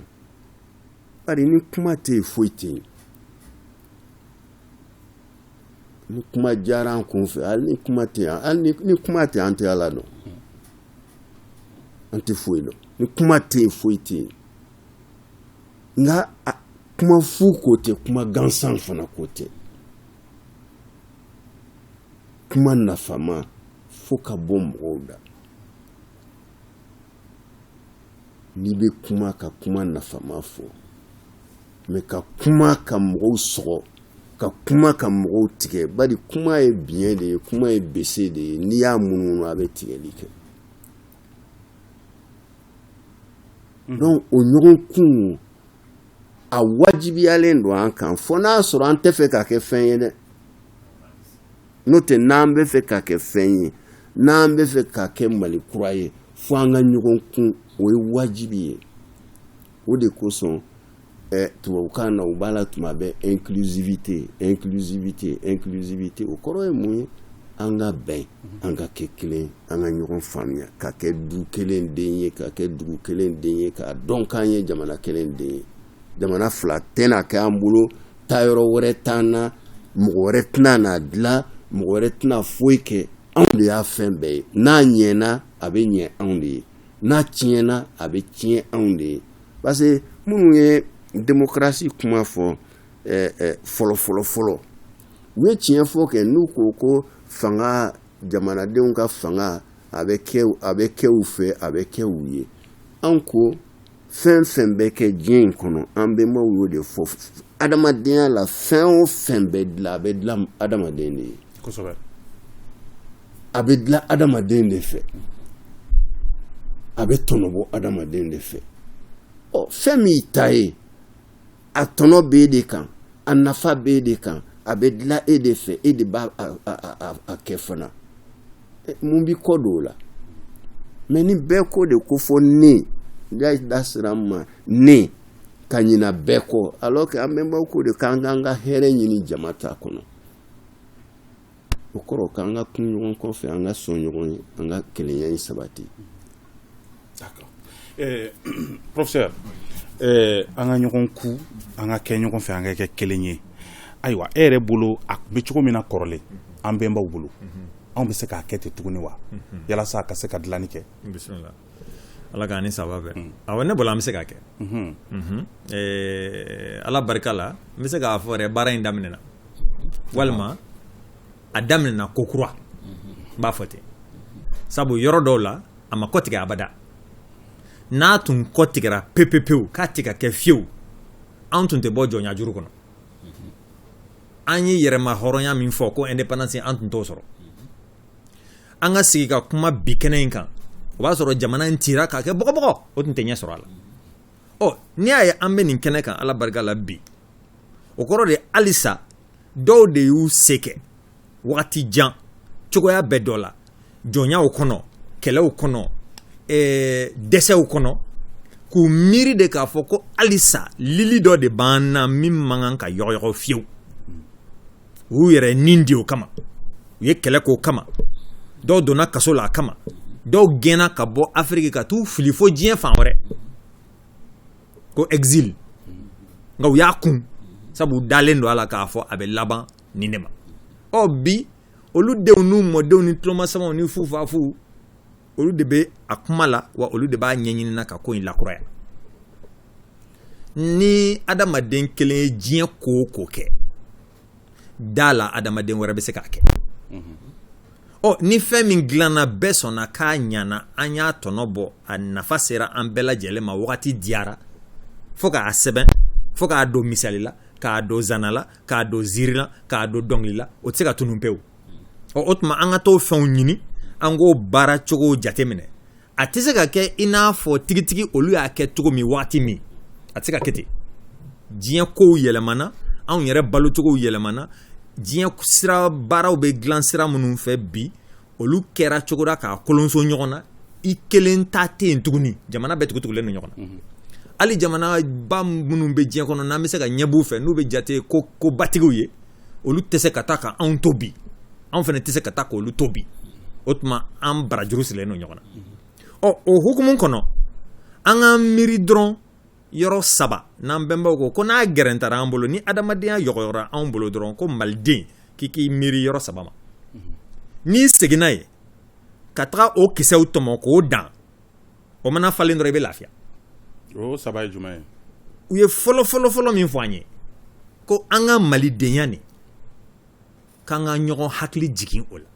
bari ni kuma tɛ yen foyi tɛ yen ni kuma diyara an kun fɛ hali ni kuma tɛ yan hali ni kuma tɛ an tɛ ala dɔn an tɛ foyi dɔn ni kuma tɛ yen foyi tɛ yen nka kuma fu ko tɛ kuma gansan fana ko tɛ kuma nafama fo ka bɔ mɔgɔw da n'i bɛ kuma ka kuma nafama fɔ mais ka kuma ka mɔgɔw sɔgɔ ka kuma ka mɔgɔw tigɛ bari kuma ye biɲɛ de ye kuma ye bese de ye n'i y'a munumunu a bɛ tigɛli kɛ hmm. donc o ɲɔgɔn kun a wajibiyalen don an kan fo n'a sɔrɔ an tɛ fɛ ka kɛ fɛn ye dɛ n'o tɛ n'an bɛ fɛ ka kɛ fɛn ye n'an bɛ fɛ ka kɛ mali kura ye fo an ka ɲɔgɔn kun o ye wajibi ye o de kosɔn ɛ tubabukan na u b'a la tuma bɛɛ inclusivité inclusivité inclusivité o kɔrɔ ye mun ye an ka bɛn an ka kɛ kelen an ka ɲɔgɔn faamuya ka kɛ du kelen den ye ka kɛ dugu kelen den ye k'a dɔn k'an ye jamana kelen den ye jamana fila tɛna kɛ an bolo taayɔrɔ wɛrɛ t'an na mɔgɔ wɛrɛ tɛna n'a dilan mɔgɔ wɛrɛ tɛna foyi kɛ anw de y'a fɛn bɛɛ ye n'a ɲɛna a bɛ ɲɛ anw de ye n'a tiɲɛna a bɛ tiɲɛ anw de ye parce que minnu ye démocratie kuma fɔ fɔlɔfɔlɔfɔlɔ u ye tiɲɛ fɔ kɛ n'u ko ko fanga jamanadenw ka fanga a bɛ a bɛ kɛ u fɛ a bɛ kɛ u ye an ko fɛn fɛn bɛ kɛ diɲɛ in kɔnɔ an bɛnbaw y'o de fɔ adamadenya la fɛn o fɛn bɛ dilan a bɛ dilan adamaden de ye a bɛ dilan adamaden de fɛ a bɛ tɔnɔbɔ adamaden de fɛ ɔ fɛn min i ta ye a tɔnɔ b'e de kan a nafa b'e de kan a bɛ dilan e de fɛ e de b'a a kɛ fana mun b'i kɔ don o la mais ni bɛɛ ko de ko fɔ ne da da sira ma ne ka ɲina bɛɛ kɔ alors que an bɛnbaw ko de k'an k'an ka hɛrɛ ɲini jama ta kɔnɔ o kɔrɔ k'an ka kun ɲɔgɔn kɔfɛ an ka sɔn ɲɔgɔn ye an ka kelenya in sabati eh, professeur eh, an ka ɲɔgɔn kun an ka kɛ ɲɔgɔn fɛ an ka kɛ kelen ye ayiwa e yɛrɛ bolo a tun bɛ cogo min na kɔrɔlen an bɛnbaw bolo anw bɛ se k'a kɛ ten tuguni wa yalasa a ka se ka dilanni kɛ Ala k'an ni saba bɛɛ awɔ ne bolo an bɛ se ka kɛ ala barika la n bɛ se k'a fɔ yɛrɛ baara in daminɛna walima a daminɛna kokura n b'a fɔ ten sabu yɔrɔ dɔw la a ma kɔtigɛ abada n'a tun kɔtigɛra pepepewu k'a tigɛ ka kɛ fiyewu an tun tɛ bɔ jɔnyajuru kɔnɔ an ye yɛrɛmahɔrɔnya min fɔ ko indépendance an tun t'o sɔrɔ an ka sigi ka kuma bi kɛnɛ in kan o b'a sɔrɔ jamana in cira k'a kɛ bɔgɔbɔgɔ o tun tɛ ɲɛ sɔrɔ a la ɔ n'i y'a ye an bɛ nin kɛnɛ kan ala barika la bi o kɔrɔ de halisa dɔw de y'u se kɛ wagati jan cogoya bɛɛ dɔ la jɔnyaw kɔnɔ kɛlɛw kɔnɔ eh, dɛsɛw kɔnɔ k'u miiri de k'a fɔ ko halisa lili dɔ de b'an na min man kan ka yɔgɔyɔgɔ fiyewu u y'u yɛrɛ nin di o kama u ye kɛlɛ k'o kama dɔw donna kaso la a kama dɔw gɛnna ka bɔ afiriki ka t'u fili fo diɲɛ fan wɛrɛ ko exil nka u y'a kun sabu u dalen don a la k'a fɔ a bɛ laban nin de ma ɔ bi olu denw n'u mɔdenw ni tulomasamaw ni fufafu olu de bɛ a kuma la wa olu de b'a ɲɛɲini na ka ko in lakuraya ni adamaden kelen ye diɲɛ ko o ko kɛ da la adamaden wɛrɛ bɛ se k'a kɛ ɔ ni fɛn min dilanna bɛɛ sɔnna k'a ɲana an y'a tɔnɔ bɔ a nafa sera an bɛɛ lajɛlen ma wagati diyara fo k'a sɛbɛn fo k'a don misali la k'a don zana la k'a don ziiri la k'a don dɔnkili la o tɛ se ka tunun pewu ɔ o tuma an ka t'o fɛnw ɲini an k'o baara cogo jateminɛ a tɛ se ka kɛ i n'a fɔ tigitigi olu y'a kɛ cogo min waati min a tɛ se ka kɛ ten diɲɛ kow yɛlɛmana anw yɛrɛ balocogow yɛlɛmana diɲɛ sira baaraw bɛ dilan sira minnu fɛ bi olu kɛra cogo la k'a kolonso ɲɔgɔn na i kelen ta tɛ yen tuguni jamana bɛɛ tugutugulen don ɲɔgɔn na mhm. hali jamanaba minnu bɛ diɲɛ kɔnɔ n'an bɛ se ka ɲɛb'u fɛ n'u bɛ jate kobatigiw ye olu tɛ se ka taa ka anw to bi anw fana tɛ se ka taa k' olu to bi o tuma an barajuru sirilen don ɲɔgɔn na ɔ o hukumu kɔnɔ an ka miiri dɔrɔn yɔrɔ saba n'an bɛnbaw ko ko n'a gɛrɛntara an bolo ni adamadenya yɔgɔyɔgɔra anw bolo dɔrɔn ko maliden k'i k'i miiri yɔrɔ saba ma n'i seginna yen ka taga o kisɛw tɔmɔ k'o dan o mana falen dɔrɔn i bɛ lafiya o saba ye jumɛn ye u ye fɔlɔ fɔlɔ fɔlɔ min fɔ an ye ko an ka malidenya nin k'an ka ɲɔgɔn hakili jigin o la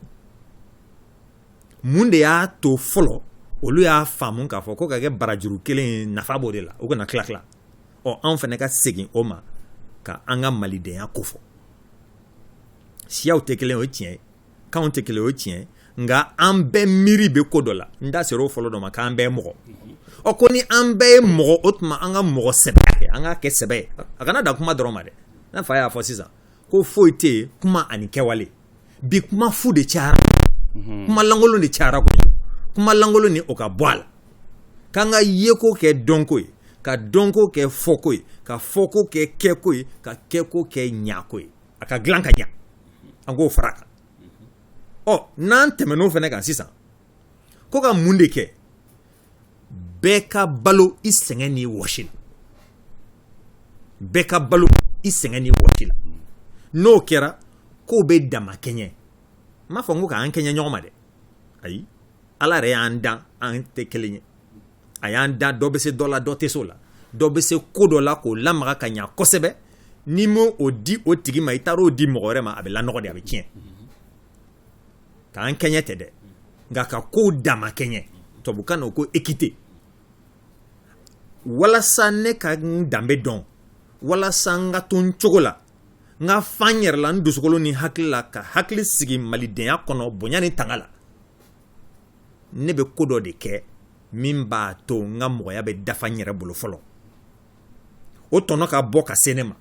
mun de y'a to fɔlɔ olu y'a faamu k'a fɔ ko ka kɛ barajuru kelen ye nafa b'o de la u kana tila tila ɔ anw fana ka segin o ma ka an ka malidenya kofɔ siyaw tɛ kelen o ye tiɲɛ ye kanw tɛ kelen o tiɲɛ nka an bɛɛ miiri bɛ ko dɔ la n da sera o fɔlɔ dɔ ma k'an bɛɛ mɔgɔ ɔ ko ni an bɛɛ ye mɔgɔ o tuma an ka mɔgɔ sɛbɛya kɛ an ka kɛ sɛbɛ ye a kana da kuma dɔrɔn ma dɛ n'a fa y'a fɔ sisan ko foyi tɛ yen kuma ani kɛwale bi kuma fu de cayara mhm. kuma lankolon de cayara ko kuma lankolon nin o ka bɔ a la k'an ka yeko kɛ dɔnko ye ka dɔnko kɛ fɔko ye ka fɔko kɛ kɛko ye ka kɛko kɛ ɲako ye a ka dilan ka ɲa an k'o fara kan ɔ n'an tɛmɛn'o fana kan sisan ko ka mun de kɛ bɛɛ ka balo i sɛgɛn ni wɔsi la bɛɛ ka balo i sɛgɛn ni wɔsi la n'o kɛra kow bɛ dama kɛɲɛ n m'a fɔ n ko k'an kɛɲɛ ɲɔgɔn ma dɛ ayi ala yɛrɛ y'an dan an tɛ kelen ye a y'an dan dɔ bɛ se dɔ la dɔ tɛ se o la dɔ bɛ se ko dɔ la k'o lamaga ka ɲa kosɛbɛ n'i ma o di o tigi ma i taara o di mɔgɔ wɛrɛ ma a bɛ lanɔgɔ de a bɛ tiɲɛ k'an kɛɲɛ tɛ dɛ nka ka kow dama kɛɲɛ tubabukan na o ko équité walasa ne ka n danbe dɔn walasa n ka to n cogo la n ka fa n yɛrɛ la n dusukolo ni hakili la ka hakili sigi malidenya kɔnɔ bonya ni tanga la ne bɛ ko dɔ de kɛ min b'a to n ka mɔgɔya bɛ dafa n yɛrɛ bolo fɔlɔ o tɔnɔ ka bɔ ka se ne ma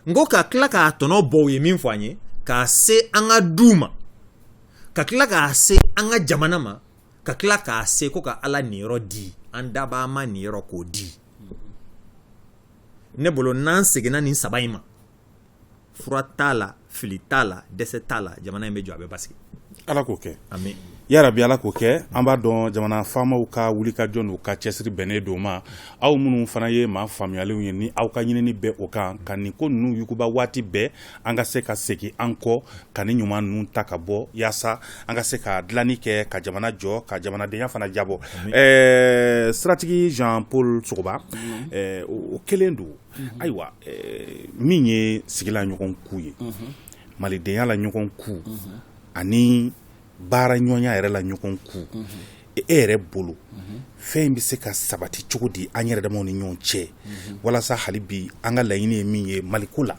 n ko ka tila k'a tɔnɔ bɔ u ye min fɔ an ye k'a se an ka duw ma ka tila k'a se an ka jamana ma ka tila k'a se ko ka ala niyɔrɔ di an dabaa ma niyɔrɔ k'o di ne bolo n'an seginna nin saba in ma fura t'a la fili t'a la dɛsɛ t'a la jamana in bɛ jɔ a bɛ basigi ala k'o kɛ amin yarabi ala k'o kɛ an b'a dɔn jamana faamaw ka wulikajɔ n'u ka cɛsiri bɛnnen don ma aw minnu fana ye maa faamuyalenw ye ni aw ka ɲinini bɛ o kan ka nin ko ninnu yuguba waati bɛɛ an ka se ka segin an kɔ ka nin ɲuman ninnu ta ka bɔ yaasa an ka se ka dilanni kɛ ka jamana jɔ ka jamanadenya fana jabɔ ɛɛ siratigi jean paul sogoba o kelen don ayiwa min ye sigi la ɲɔgɔn ku ye malidenya la ɲɔgɔn ku ani baara ɲɔgɔnya yɛrɛ la ɲɔgɔn ku e yɛrɛ bolo fɛn in bɛ se ka sabati cogo di an yɛrɛ damaw ni ɲɔgɔn cɛ walasa hali bi an ka laɲini ye min ye maliko la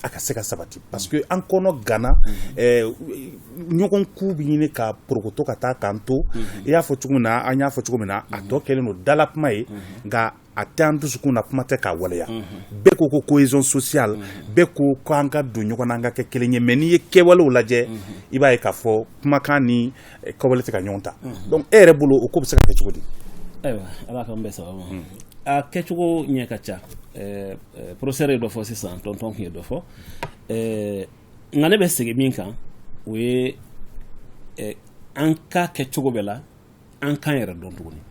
a ka se ka sabati parce que an kɔnɔ ganna ɲɔgɔn ku bɛ ɲini ka porokoto ka taa k'an to i y'a fɔ cogo min na an y'a fɔ cogo min na a tɔ kɛlen don dala kuma ye nka a tɛ an dusukun na kuma tɛ k'a waleya bɛɛ ko ko cohésion sociale bɛɛ ko ko an ka don ɲɔgɔn na an ka kɛ kelen ye mais n'i ye kɛwalew lajɛ i b'a ye k'a fɔ kumakan ni eh, kɛwale tɛ ka ɲɔgɔn ta donc e yɛrɛ bolo o ko bɛ se ka kɛ cogo di ayiwa ala k'an bɛɛ sababu ma a kɛcogo ɲɛ ka ca eh, eh, professeur ye dɔ fɔ sisan tonton tun ye dɔ fɔ Eh, nka ne bɛ segin min kan o ye eh, an k'a kɛ cogo bɛɛ la an k'an yɛrɛ dɔn tuguni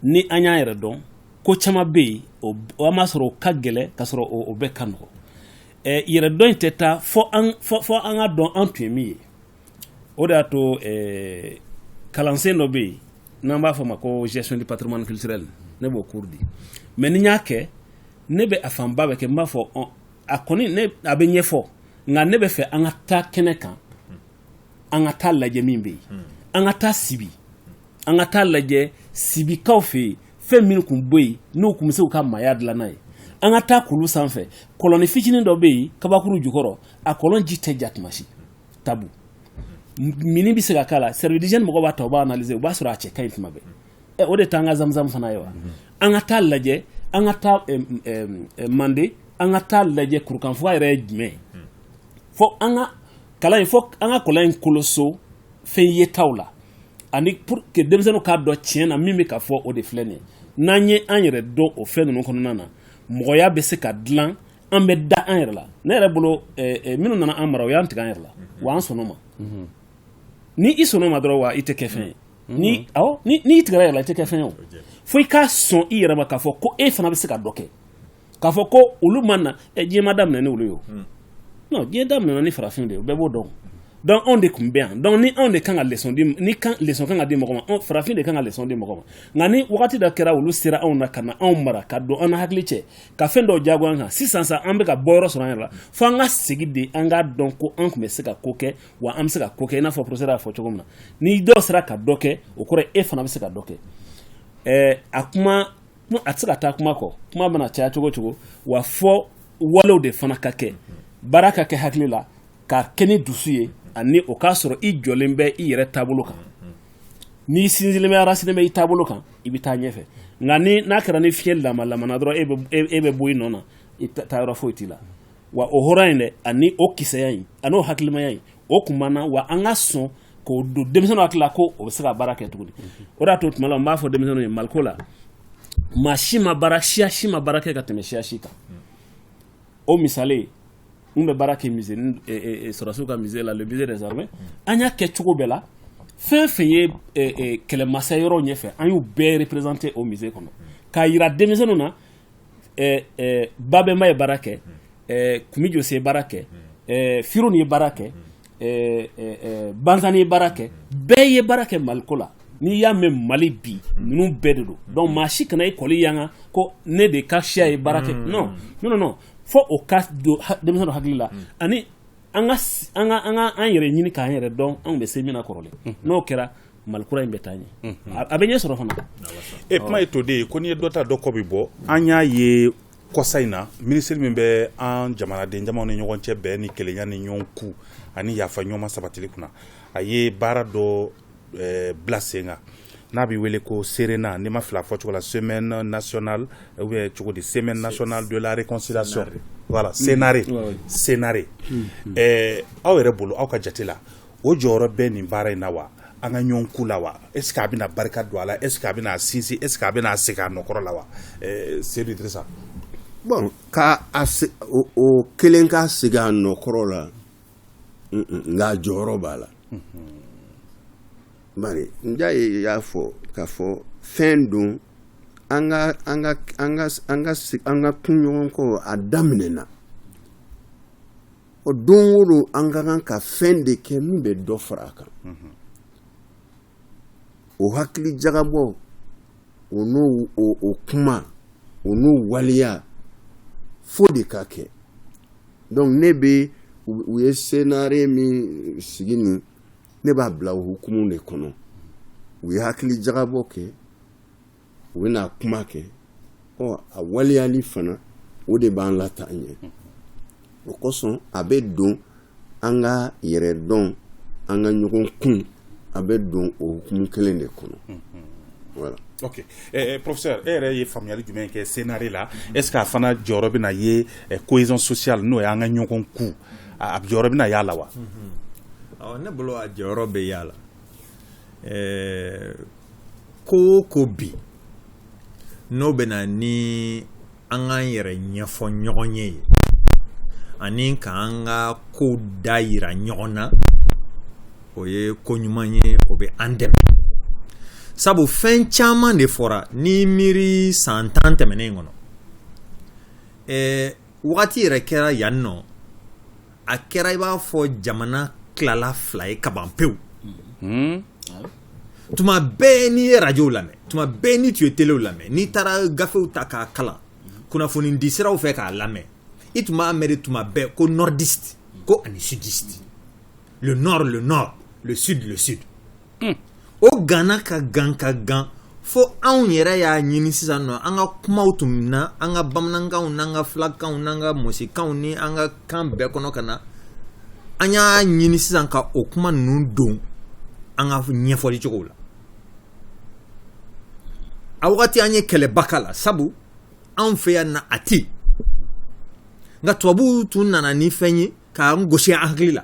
ni an y'an yɛrɛ dɔn ko caman bɛ yen an b'a sɔrɔ o ka gɛlɛn ka sɔrɔ o bɛɛ ka nɔgɔ yɛrɛ dɔn in tɛ taa fo an k'a dɔn an tun ye min ye o de y'a to kalansen dɔ bɛ yen n'an b'a fɔ ma ko gestion du patrimoine culturel ne b'o cours di mais ni n y'a kɛ ne bɛ a fanba bɛ kɛ n b'a fɔ a kɔni a bɛ ɲɛfɔ nka ne bɛ fɛ an ka taa kɛnɛ kan an ka taa lajɛ min bɛ yen an ka taa sibi an ka taa lajɛ sibikaw fɛ yen fɛn min tun bɛ yen n'o tun bɛ se ka maaya dilan n'a ye an ka taa kulu sanfɛ kɔlɔnnin fitinin dɔ bɛ yen kabakuru jukɔrɔ a kɔlɔn ji tɛ ja tuma si tabu mini bɛ se ka k'a la service d'hygiène mɔgɔw b'a ta u b'a analyser u b'a sɔrɔ a cɛ ka ɲi tuma bɛɛ o de t'an ka zamzam fana ye wa an ka taa lajɛ an ka taa mande an ka taa lajɛ kurukanfuga yɛrɛ ye jumɛn ye fo an ka kalan in fɔ an ka kɔlɔn in koloso fɛn yetaw la ani pour que denmisɛnninw k'a dɔn tiɲɛ na min bɛ ka fɔ o de filɛ nin ye n'an ye an yɛrɛ dɔn o fɛn ninnu kɔnɔna na mɔgɔya bɛ se ka dilan an bɛ da an yɛrɛ la ne yɛrɛ bolo eh, eh, minnu nana an mara o y'an tigɛ an yɛrɛ la wa an sɔnn'o ma mhm. ni i sɔnn'o ma dɔrɔn wa i tɛ kɛ fɛn ye mhm. ni awɔ ni n'i tigɛra yɛrɛ la i tɛ kɛ fɛn ye o fo i ka sɔn i yɛrɛ ma k'a fɔ ko e fana bɛ se ka dɔ kɛ k'a fɔ ko olu ma na ɛ diɲɛ ma daminɛ ni olu ye o hmm. non diɲɛ daminɛna ni farafin de ye bɛɛ b'o dɔn donc anw de tun bɛ yan donc ni anw de kan ka leçon di ni kan leçon kan ka di mɔgɔ ma farafin de kan ka leçon di mɔgɔ ma nka ni wagati dɔ kɛra olu sera anw na ka na anw mara ka don an na hakili cɛ ka fɛn dɔw jagoya an kan sisan sa an bɛ ka bɔ yɔrɔ sɔrɔ an yɛrɛ la fo an ka segin de an k'a dɔn ko an tun bɛ se ka ko kɛ wa an bɛ se ka ko kɛ i n'a fɔ professeur y'a fɔ cogo min na ni dɔw sera ka dɔ kɛ o kɔrɔ e fana bɛ se ka dɔ kɛ ɛɛ a kuma a tɛ se ka taa kuma kɔ kuma mana caya cogo cogo wa fo walew de fana ka kɛ baara ka kɛ hakili la ka kɛ ni dusu ye ani o k'a sɔrɔ i jɔlen bɛ i yɛrɛ taabolo kan n'i sinsinlen bɛ enraciné bɛ i taabolo kan i bɛ taa ɲɛfɛ nka ni n'a kɛra ni fiɲɛ lama lamana dɔrɔn e bɛ bɔ i nɔ na i taayɔrɔ foyi t'i la wa o hɔrɔn in dɛ ani o kisɛya in ani o hakilimaya in o tun b'an na wa an ka sɔn k'o don denmisɛnninw hakili la ko o bɛ se ka baara kɛ tuguni o de y'a to tuma la n b'a fɔ denmisɛnninw ye maliko la maa si ma baara siya si ma baara kɛ ka tɛmɛ siya si kan o misali n bɛ baara kɛ musée ni eh, eh, eh, sɔrɔdasiw ka musée la le musée des armées an y'a kɛ cogo bɛɛ la fɛn fɛn ye kɛlɛmasa yɔrɔ ɲɛfɛ an y'u bɛɛ représenter o musée kɔnɔ k'a yira denmisɛnninw na babɛnba ye baara kɛ kumi jose baara kɛ firun ye baara kɛ bazani ye baara kɛ bɛɛ ye baara kɛ maliko la n'i y'a mɛn mali bi ninnu bɛɛ de don donc maa si kana i kɔli yanga ko ne de ka siya ye baara kɛ non fo o ka don denmisɛn hakili la ani an yɛrɛ ɲini k'an yɛrɛ dɔn an bɛ se min na kɔrɔlen n'o kɛra mali kura in bɛ taa ɲɛ a bɛ ɲɛ sɔrɔ fana e kuma ye to de ye ko n'i ye dɔ ta dɔ kɔ bɛ bɔ an y'a ye kɔsa in na minisiri min bɛ an jamanaden jamaw ni ɲɔgɔn cɛ bɛn ni kelenya ni ɲɔgɔn kun ani yafa ɲɔgɔn ma sabatili kunna a ye baara dɔ bila sen kan n'a bɛ wele ko serena ni n ma fili a fɔ cogo la semaine nationale cogo di semaine nationale de la réconciliation voilà senare senare aw yɛrɛ bolo aw ka jate la o jɔyɔrɔ bɛ nin baara in na wa an ka ɲɔgɔn kun la wa est ce que a bɛna barika don a la est ce que a bɛna sinsin est ce que a bɛna segin a nɔkɔrɔ la wa seydou idrissa bon k'o kelen ka segin a nɔkɔrɔ la nka jɔyɔrɔ b'a la bari njayi y'a fɔ k'a fɔ fɛn don an ka kunɲɔgɔn kɔ a daminɛna o don o don an ka kan ka fɛn de kɛ min bɛ dɔ fara a kan o hakili jagabɔ o n'o kuma o n'o waleya fo de ka kɛ donc ne bɛ u ye senare min sigi nin ne b'a bila o hukumu de kɔnɔ u ye hakili jagabɔ kɛ u bɛna kuma kɛ ɔ a waleyali fana o de b'an lataa ɲɛ o kosɔn a bɛ don an ka yɛrɛ dɔn an ka ɲɔgɔn kun a bɛ don o hukumu kelen de kɔnɔ voilà ok eh, eh, professeur e yɛrɛ ye faamuyali jumɛn kɛ senare la est ce que a fana jɔyɔrɔ bɛna ye eh, cohésion sociale n'o ye an ka ɲɔgɔn kun a jɔyɔrɔ bɛna y'a la wa mhm. ne bolo a jɔyɔrɔ bɛ y'a la eh, ko o ko bi n'o bɛ na ni an k'an yɛrɛ ɲɛfɔ ɲɔgɔn ye ani k'an ka ko da yira ɲɔgɔn na o ye ko ɲuman ye o bɛ an dɛmɛ sabu fɛn caman de fɔra n'i miiri san tan tɛmɛnen kɔnɔ ɛɛ wagati yɛrɛ kɛra yan nɔ a kɛra i b'a fɔ jamana tilala fila ye kaban pewu hmm? tuma bɛɛ n'i ye arajow lamɛn tuma bɛɛ n'i tun ye telew lamɛn n'i taara gafew ta k'a kalan kunnafoni di siraw fɛ k'a lamɛn i tun b'a mɛn de tuma bɛɛ ko nordiste ko ani sudiste le nord le nord le sud le sud hmm. o ganna ka gan ka gan fo anw yɛrɛ y'a ɲini sisan nɔ an ka kumaw tun na an ka bamanankanw n'an ka filakanw n'an ka mɔsikanw ni an ka kan bɛɛ kɔnɔ ka na an y'a ɲini sisan ka o kuma ninnu don an ka ɲɛfɔli cogow la a wagati an ye kɛlɛba k'a la sabu anw fɛ yan na a tɛ nka tubabuw tun nana ni fɛn ye k'an gosi an hakili la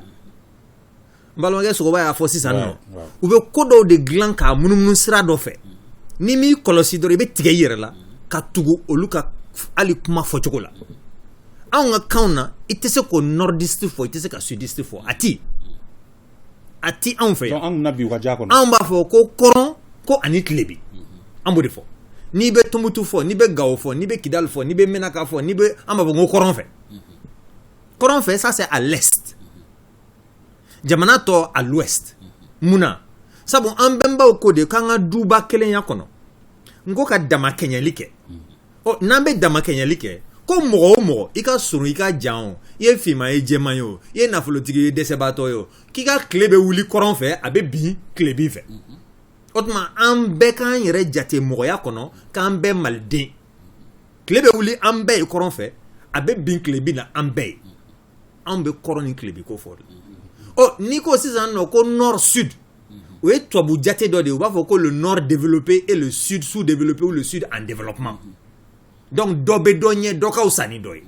balimakɛ sogoba y'a fɔ sisan nɔ u bɛ ko dɔw de dilan k'a munumunu sira dɔ fɛ n'i m'i kɔlɔsi dɔrɔn i bɛ tigɛ i yɛrɛ la ka tugu olu ka hali kuma fɔcogo la anw ka kanw na i tɛ se k'o nordiste fɔ i tɛ se ka sudiste fɔ a ti a ti anw fɛ yan anw b'a fɔ ko kɔrɔn ko ani tilebin an b'o de fɔ n'i bɛ tumutu fɔ n'i bɛ gawo fɔ n'i bɛ kidali fɔ n'i bɛ mɛnaka fɔ n'i bɛ an b'a fɔ ko kɔrɔn fɛ kɔrɔn fɛ ça c'est à l'est jamana tɔ à l'ouest mun na sabu an bɛnbaw ko de k'an ka duba kelenya kɔnɔ n ko ka damakɛɲɛli kɛ ɔ n'an bɛ damakɛɲɛli kɛ ko mɔgɔ o mɔgɔ i ka surun i ka jan o i ye finman ye jɛman ye o i ye nafolotigi ye dɛsɛbaatɔ ye o k'i ka tile bɛ wuli kɔrɔn fɛ a bɛ bin tilebin fɛ o tuma an bɛɛ k'an yɛrɛ jate mɔgɔya kɔnɔ k'an bɛɛ maliden tile bɛ wuli an bɛɛ ye kɔrɔn fɛ a bɛ bin tilebin na an bɛɛ ye anw bɛ kɔrɔn ni tilebin ko fɔ n'i ko sisan nɔ ko nord sud o ye tubabu jate dɔ de u b'a fɔ ko le nord développé et le sud sous-développé ou le sud en développement donc dɔ bɛ dɔ ɲɛ dɔ ka wusa ni dɔ ye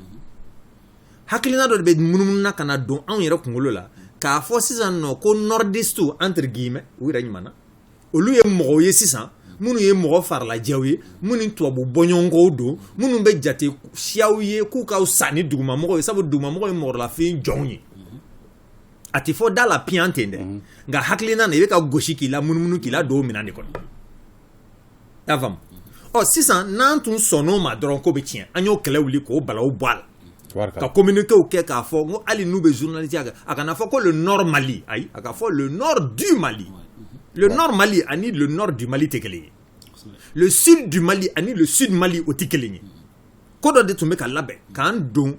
hakilina dɔ de bɛ munumunu na ka na don anw yɛrɛ kunkolo la k'a fɔ sisan nɔ ko nordiste entre guillemets u yɛrɛ ɲuman na olu ye mɔgɔw ye sisan minnu ye mɔgɔ farilajɛw ye minnu tubabu bɔɲɔgɔnkow don minnu bɛ jate siyaw ye k'u ka wusa ni dugumamɔgɔw ye sabu dugumamɔgɔw ye mɔgɔlafin jɔnw ye a tɛ fɔ da la piyan ten dɛ nka hakilina na i bɛ ka gosi k'i lamunumunu k'i ladon o minɛn de kɔnɔ y'a faamu ɔ sisan n'an tun sɔnn'o ma dɔrɔn ko bɛ tiɲɛ an y'o kɛlɛ wuli k'o balawu bɔ a la ka communiquéw kɛ k'a fɔ ko hali n'u bɛ journalistiya kɛ a kana fɔ ko le nord mali ayi a ka fɔ le nord du mali le nord mali ani le nord du mali tɛ kelen ye le sud du mali ani le sud mali o tɛ kelen ye ko dɔ de tun bɛ ka labɛn k'an don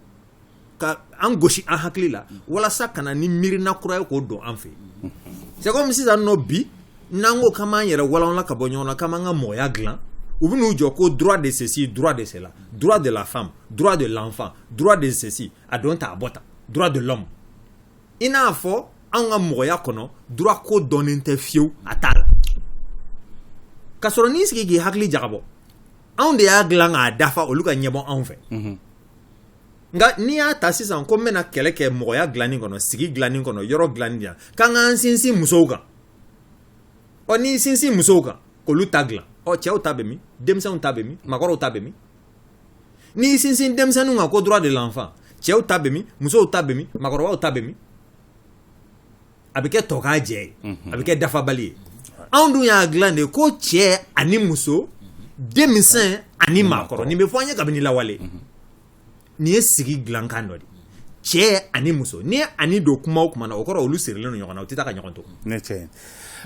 ka an gosi an hakili la walasa ka na ni miirina kura ye k'o don an fɛ c'est comme sisan nɔ bi n'an ko k'an b'an yɛrɛ walanwalan ka bɔ ɲɔgɔn na k'an b'an ka mɔgɔya dilan u bɛ n'u jɔ ko droit de ceci droit de cela droit de la femme droit de l'enfant droit de ceci a don ta a bɔ ta droit de l'homme i n'a fɔ anw ka mɔgɔya kɔnɔ droit ko dɔnnen tɛ fiyewu a t'a la k'a sɔrɔ n'i sigi k'i hakili jagabɔ anw de y'a dilan k'a dafa olu ka ɲɛbɔ anw fɛ nka n'i y'a ta sisan ko n bɛna kɛlɛ kɛ mɔgɔya dilanni kɔnɔ sigi dilanni kɔnɔ yɔrɔ dilanni dilan kan ka n sinsin musow kan ɔ n'i sinsin musow kan k'olu ta dilan ɔ cɛw ta bɛ min denmisɛnw ta bɛ min maakɔrɔw ta bɛ min n'i sinsin denmisɛnninw kan ko droit de l'enfant cɛw ta bɛ min musow ta bɛ min maakɔrɔbaw ta bɛ min a bɛ kɛ tɔkajɛ ye a bɛ kɛ dafabali ye anw dun y'a dilan de ko cɛ ani muso denmisɛn ani maakɔrɔ nin bɛ fɔ an ye kabini lawale nin ye sigi dilankan dɔ de cɛ ani muso n'i ye ani don kuma o kuma na o kɔrɔ olu sirilen ɲɔgɔn na o tɛ taa ka ɲɔgɔn to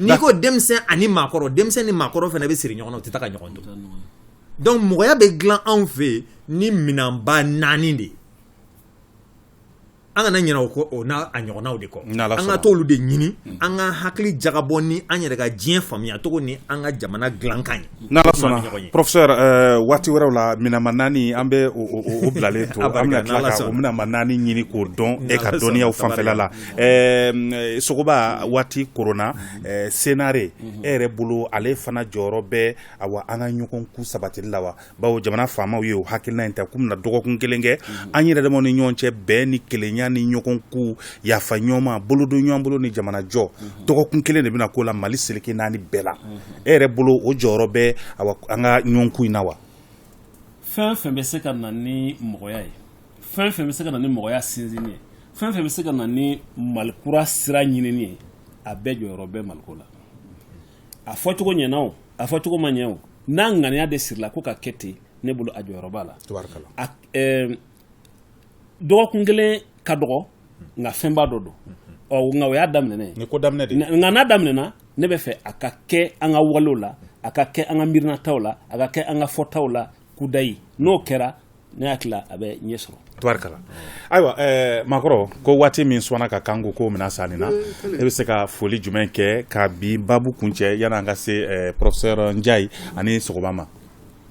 n'i ko denmisɛn ani maakɔrɔ denmisɛn ni maakɔrɔ fana bɛ siri ɲɔgɔn na o tɛ taa ka ɲɔgɔn to donc mɔgɔya bɛ dilan anw fɛ ni minɛnba naani de ye an kana ɲinɛ o o n'a a ɲɔgɔnnaw de kɔ n'Ala sɔnna an ka t'olu de ɲini an ka hakili jagabɔ ni an yɛrɛ ka diɲɛ faamuya cogo ni an ka jamana dilankan ye n'Ala sɔnna professeur ɛɛ waati wɛrɛw la minɛnba naani an bɛ o o o bilalen to an bɛna tila ka o minɛnba naani ɲini k'o dɔn e ka dɔnniyaw fanfɛla la ɛɛ Sogoba waati koronna ɛɛ SENARE e yɛrɛ bolo ale fana jɔyɔrɔ bɛ awa an ka ɲɔgɔn ku sabatili la wa bawo jamana faamaw ye o hakilina in ta k'u bɛna dɔgɔkun kelen kɛ mhm. an yɛrɛ damaw ni ɲɔgɔn cɛ bɛn ni kelenya ni ɲɔgɔn ku yafa ɲɔgɔn ma bolodon ɲɔgɔn bolo ni jamana jɔ mhm. dɔgɔkun kelen de bɛna k'o la mali seleke naani bɛɛ la mhm. e yɛrɛ bolo o jɔyɔrɔ bɛ awa an ka ɲɔgɔn ku in na wa fɛn fɛn bɛ se ka na ni mɔgɔya ye fɛn fɛn bɛ se ka na ni mɔgɔya sinsinni ye fɛn fɛn bɛ se ka na ni malikura sira ɲinini ye a bɛɛ jɔyɔrɔ bɛ maliko la a fɔcogo ɲɛna o a fɔcogo ma ɲɛ o n'a ŋaniya de sirila ko ka kɛ ten ne bolo a jɔyɔrɔ b'a la dɔgɔkun kelen ka dɔgɔ nka fɛnba dɔ don ɔ nka o y'a daminɛ nka n'a daminɛna ne bɛ fɛ a ka kɛ an ka walew la a ka kɛ an ka miirinataw la a ka kɛ an ka fɔtaw la kudayi n'o kɛra ne hakili la a bɛ ɲɛ sɔrɔ tubarikala ayiwa eh, maakɔrɔ ko waati min sɔnna ka kan ko ko mina sanni na mm, e bɛ se ka foli jumɛn kɛ ka bi babu kuncɛ yanni an ka se eh, professeur Ndiaye ani Sogoba ma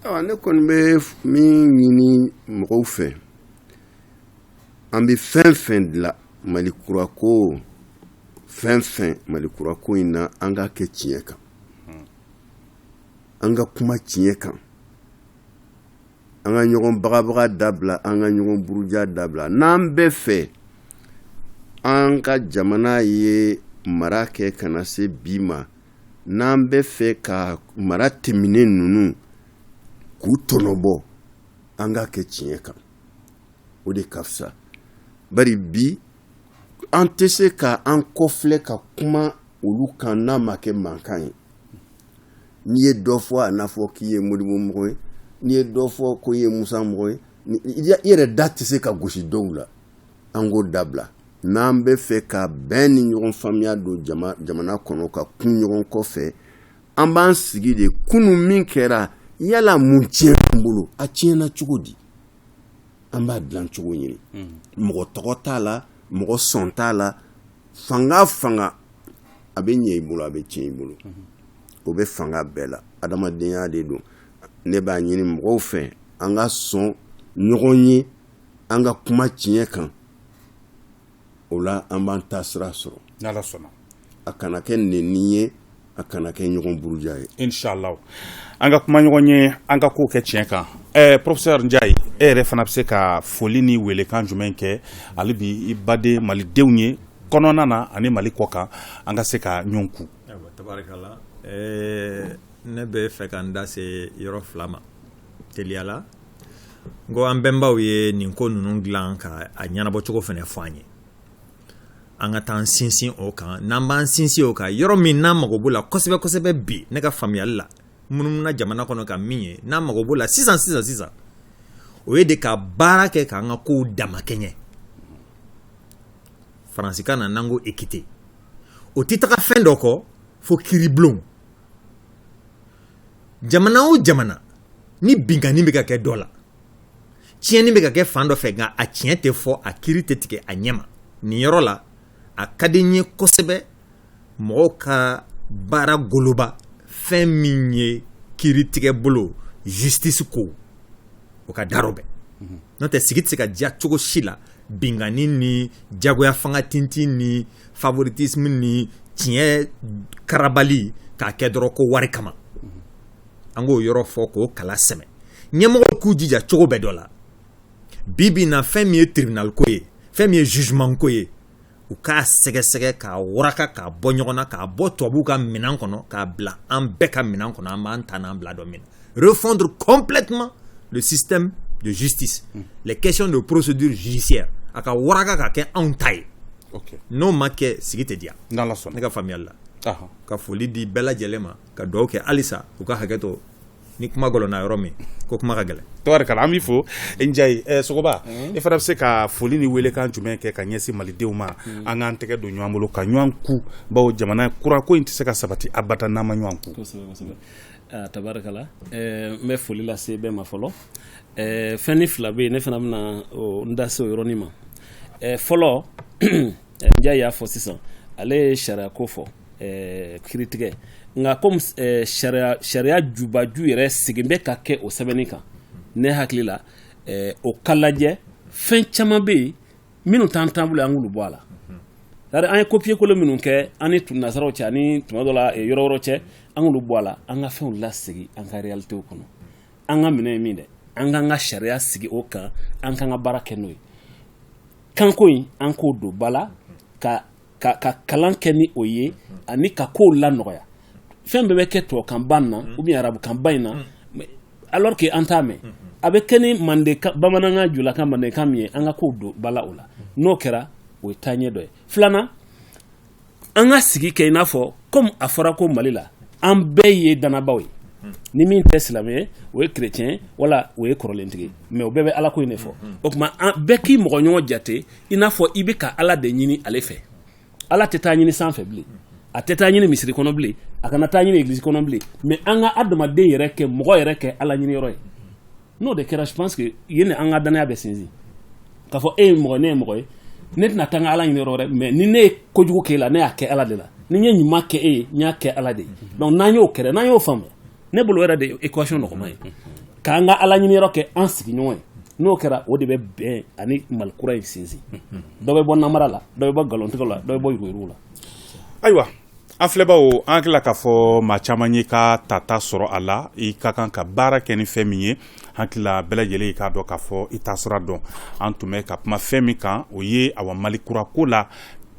awa ne kɔni bɛ min ɲini mɔgɔw fɛ an bɛ fɛn fɛn dilan mali kura ko fɛn fɛn mali kura ko in na an k'a kɛ tiɲɛ kan mm. an ka kuma tiɲɛ kan an ka ɲɔgɔn bagabaga dabila an ka ɲɔgɔn buruja dabila n'an bɛ fɛ an ka jamana ye mara kɛ ka na se bi ma n'an bɛ fɛ ka mara tɛmɛnen ninnu k'u tɔnɔbɔ an k'a kɛ tiɲɛ kan o de ka fisa bari bi an tɛ se ka an kɔfilɛ ka kuma olu kan n'a ma kɛ mankan ye n'i ye dɔ fɔ a n'a fɔ k'i ye Modibo mɔgɔ ye n'i ye dɔ fɔ ko i ye Musa mɔgɔ ye i yɛrɛ da tɛ se ka gosi dɔw la an k'o dabila n'an bɛ fɛ ka bɛn ni ɲɔgɔn faamuya don jamana kɔnɔ ka kun ɲɔgɔn kɔfɛ an b'an sigi de kunun min kɛra yala mun tiɲɛ an bolo a tiɲɛna cogo di an b'a dilan cogo ɲini mɔgɔ tɔgɔ t'a la mɔgɔ sɔn t'a la fanga fanga a bɛ ɲɛ i bolo a bɛ tiɲɛ i bolo o bɛ fanga bɛɛ la adamadenya de don ne b'a ɲini mɔgɔw fɛ an ka sɔn ɲɔgɔn ye an ka kuma tiɲɛ kan o la an b'an taasira sɔrɔ a kana kɛ neni ye a kana kɛ ɲɔgɔn buruja ye inshallah an ka kuma ɲɔgɔn ye an ka ko kɛ tiɲɛ kan professeur Ndiaye e yɛrɛ fana bɛ se ka foli ni weelekan jumɛn kɛ hali bi i baden malidenw ye kɔnɔna na ani mali kɔ kan an ka se ka ɲɔgɔn kun tubarikala ne bɛ fɛ ka n da se yɔrɔ fila ma teliya la n ko an bɛnbaw ye nin ko ninnu dilan ka a ɲɛnabɔcogo fana fɔ an ye an ka taa an sinsin o kan n'an b'an sinsin o kan yɔrɔ min n'an mago b'o la kosɛbɛ kosɛbɛ bi ne ka faamuyali la n munumuna jamana kɔnɔ ka min ye n'an mago b'o la sisan sisan sisan o ye de ka baara kɛ k'an ka kow damakɛɲɛ faransikan na n'an ko équité o tɛ taga fɛn dɔ kɔ fo kiribulon jamana o jamana ni binkanni bɛ ka kɛ dɔ la tiɲɛni bɛ ka kɛ fan dɔ fɛ nka a tiɲɛ tɛ fɔ a kiri tɛ tigɛ a ɲɛma nin yɔrɔ la a ka di n ye kosɛbɛ mɔgɔw ka baara goloba fɛn min ye kiri tigɛ bolo justice ko o ka darɔ bɛɛ mhm. n'o tɛ sigi tɛ se ka diya cogo si la binkanni ni jagoya fanga tintin ni favoritisme ni tiɲɛ karabali k'a kɛ dɔrɔn ko wari kama an k'o yɔrɔ fɔ k'o kala sɛmɛ ɲɛmɔgɔw k'u jija cogo bɛɛ dɔ la bi bi na fɛn min ye tribunal ko ye fɛn min ye jugement ko ye u k'a sɛgɛsɛgɛ k'a waraka k'a bɔ ɲɔgɔn na k'a bɔ tubabuw ka minɛn kɔnɔ k'a bila an bɛɛ ka minɛn kɔnɔ an b'an ta n'an bila dɔn min na refondre complètement le système de justice mm. les questions de procédure judiciaire a ka waraka ka kɛ anw ta ye okay. n'o ma kɛ sigi tɛ diya ne ka faamuyali la ka foli di bɛɛ lajɛlen ma ka dugawu kɛ halisa u ka hakɛ to ni kuma gɔlɔnna yɔrɔ min ko kuma ka gɛlɛn tabarikala an b'i fo Njayi ɛ Sogoba e fana bɛ se ka foli ni weelekan jumɛn kɛ ka ɲɛsin Malidenw ma an k'an tɛgɛ don ɲɔgɔn bolo ka ɲɔgɔn ku bawo jamana kura ko in tɛ se ka sabati abada n'an ma ɲɔgɔn ku. Kosɛbɛ kosɛbɛ aa tabarikala ɛɛ n bɛ foli lase bɛɛ ma fɔlɔ ɛɛ fɛnnin fila bɛ yen ne fana bɛna n da se o yɔrɔnin ma ɛɛ fɔlɔ Njayi y'a fɔ sisan ale ye sariya ko fɔ kiritigɛ nka comme sariya jubaju yɛrɛ segin bɛ ka kɛ o sɛbɛnni kan ne hakili la o ka lajɛ fɛn caman bɛ yen minnu t'an bolo an k'olu bɔ a la c'est-à-dire an ye copier coller minnu kɛ an ni nasaraw cɛ ani tuma dɔ la yɔrɔ wɛrɛw cɛ an k'olu bɔ a la an ka fɛnw lasegin an ka réalitéw kɔnɔ an ka minɛn ye min dɛ an k'an ka sariya sigi o kan an k'an ka baara kɛ n'o ye kanko in an k'o don ba la ka ka ka kalan kɛ ni o ye ani ka kow lanɔgɔya fɛn bɛɛ bɛ kɛ tubabukanba na ou bien arabukanba in na alors que an t'a mɛn a bɛ kɛ ni manden bamanankan julakan mandenkan min ye an ka kow don ba la o la n'o kɛra o ye taaɲɛ dɔ ye filanan an ka sigi kɛ i n'a fɔ comme a fɔra ko mali la an bɛɛ ye danabaaw ye ni min tɛ silamɛ ye o ye chrétien wala o ye kɔrɔlentigi mais o bɛɛ bɛ ala ko in de fɔ o tuma bɛɛ k'i mɔgɔ ɲɔgɔn jate i n'a fɔ i bɛ ka ala de ɲini ale fɛ ala tɛ taa ɲini sanfɛ bilen a tɛ taa ɲini misiri kɔnɔ bilen a kana taa ɲini église kɔnɔ bilen mais an ka adamaden yɛrɛ kɛ mɔgɔ yɛrɛ kɛ ala ɲini yɔrɔ ye n'o de kɛra je pense que ye ni an ka danaya bɛ sinsin k'a fɔ e ye mɔgɔ ye ne ye mɔgɔ ye ne tɛna taa n ka ala ɲini yɔrɔ wɛrɛ mais ni ne ye kojugu kɛ e la ne y'a kɛ ala de la ni n ye ɲuman kɛ e ye n y'a kɛ ala de ye donc n'an y'o kɛra n'an y'o faamu ne bolo yɛrɛ de ye équation nɔgɔman ye k'an ka ala ɲini yɔrɔ kɛ an sigiɲɔgɔn ye n'o kɛra o de bɛ bɛn ani mali kura in sinsin dɔ bɛ bɔ namara la dɔ bɛ bɔ nkalontigɛ la dɔ bɛ bɔ yuruguyurugu la ayiwa An filɛbaw an hakili la k'a fɔ maa caman y'i ka tata sɔrɔ a la i ka kan ka baara kɛ ni fɛn min ye hakilila bɛɛ lajɛlen i k'a dɔn k'a fɔ i taasira don an tun bɛ ka kuma fɛn min kan o ye awa mali kura ko la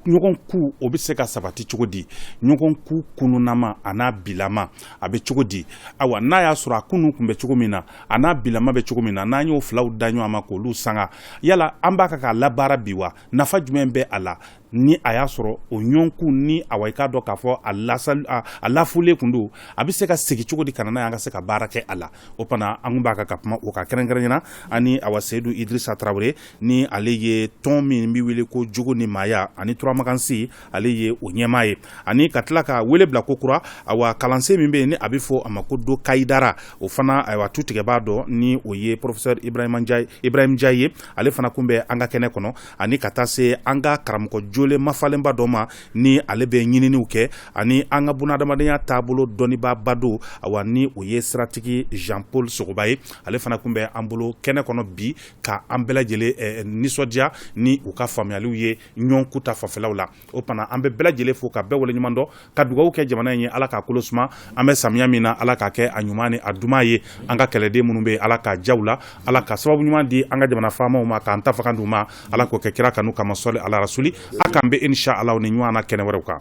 ɲɔgɔn ku o bɛ se ka sabati cogo di ɲɔgɔn ku kununama a n'a bilama a bɛ cogo di ayiwa n'a y'a sɔrɔ a kunun tun bɛ cogo min na a n'a bilama bɛ cogo min na n'an y'o filaw da ɲɔgɔn ma k'olu sanga yala an b'a kan k'a labaara bi wa nafa jumɛn bɛ a la ni a y'a sɔrɔ o ɲɔgɔnkun ni awa i k'a dɔn k'a fɔ a lasa a lafulen tun don a bɛ se ka segin cogo di ka na n'a ye an ka se ka baara kɛ a la o fana an tun b'a kan ka kuma o kan kɛrɛnkɛrɛnnenya na ani awa seyidu idrisa tarawele ni ale ye tɔn min bɛ wele ko jogo ni maaya ani turamakansi ale ye o ɲɛmaa ye ani ka tila ka wele bila ko kura awa kalansen min bɛ yen ni a bɛ fɔ a ma ko do kayidara o fana ayiwa tutigɛbaa don ni o ye porofesɛri ibrahima ibrahim njayi ye ale fana tun bɛ an ka kɛnɛ kɔnɔ ani ka taa se an ka karamɔgɔ jɔlen mafalenba dɔ ma ni ale bɛ ɲininiw kɛ ani an ka bunadamadenya taabolo dɔnnibaaba don awa ni o ye siratigi jan paul sogoba ye ale fana tun bɛ an bolo kɛnɛ kɔnɔ bi ka an bɛɛ lajɛlen nisɔndiya ni u ka faamuyaliw ye ɲɔgɔnkun ta fanfɛlaw la o fana an bɛ bɛɛ lajɛlen fo ka bɛɛ waleɲuman dɔn ka dugawu kɛ jamana in ye ala k'a kolo suma an bɛ samiya min na ala k'a kɛ a ɲuman ni a duman ye an ka kɛlɛden minnu bɛ ala ka ja u la ala ka sababu ɲuman di an ka jamana faamaw ma k'an ta fanga d'u ma ala k'o kɛ kira kanu kama sɔli ala rasuli a k'an bɛn inisa ala ni ɲɔgɔn na kɛnɛ wɛrɛw kan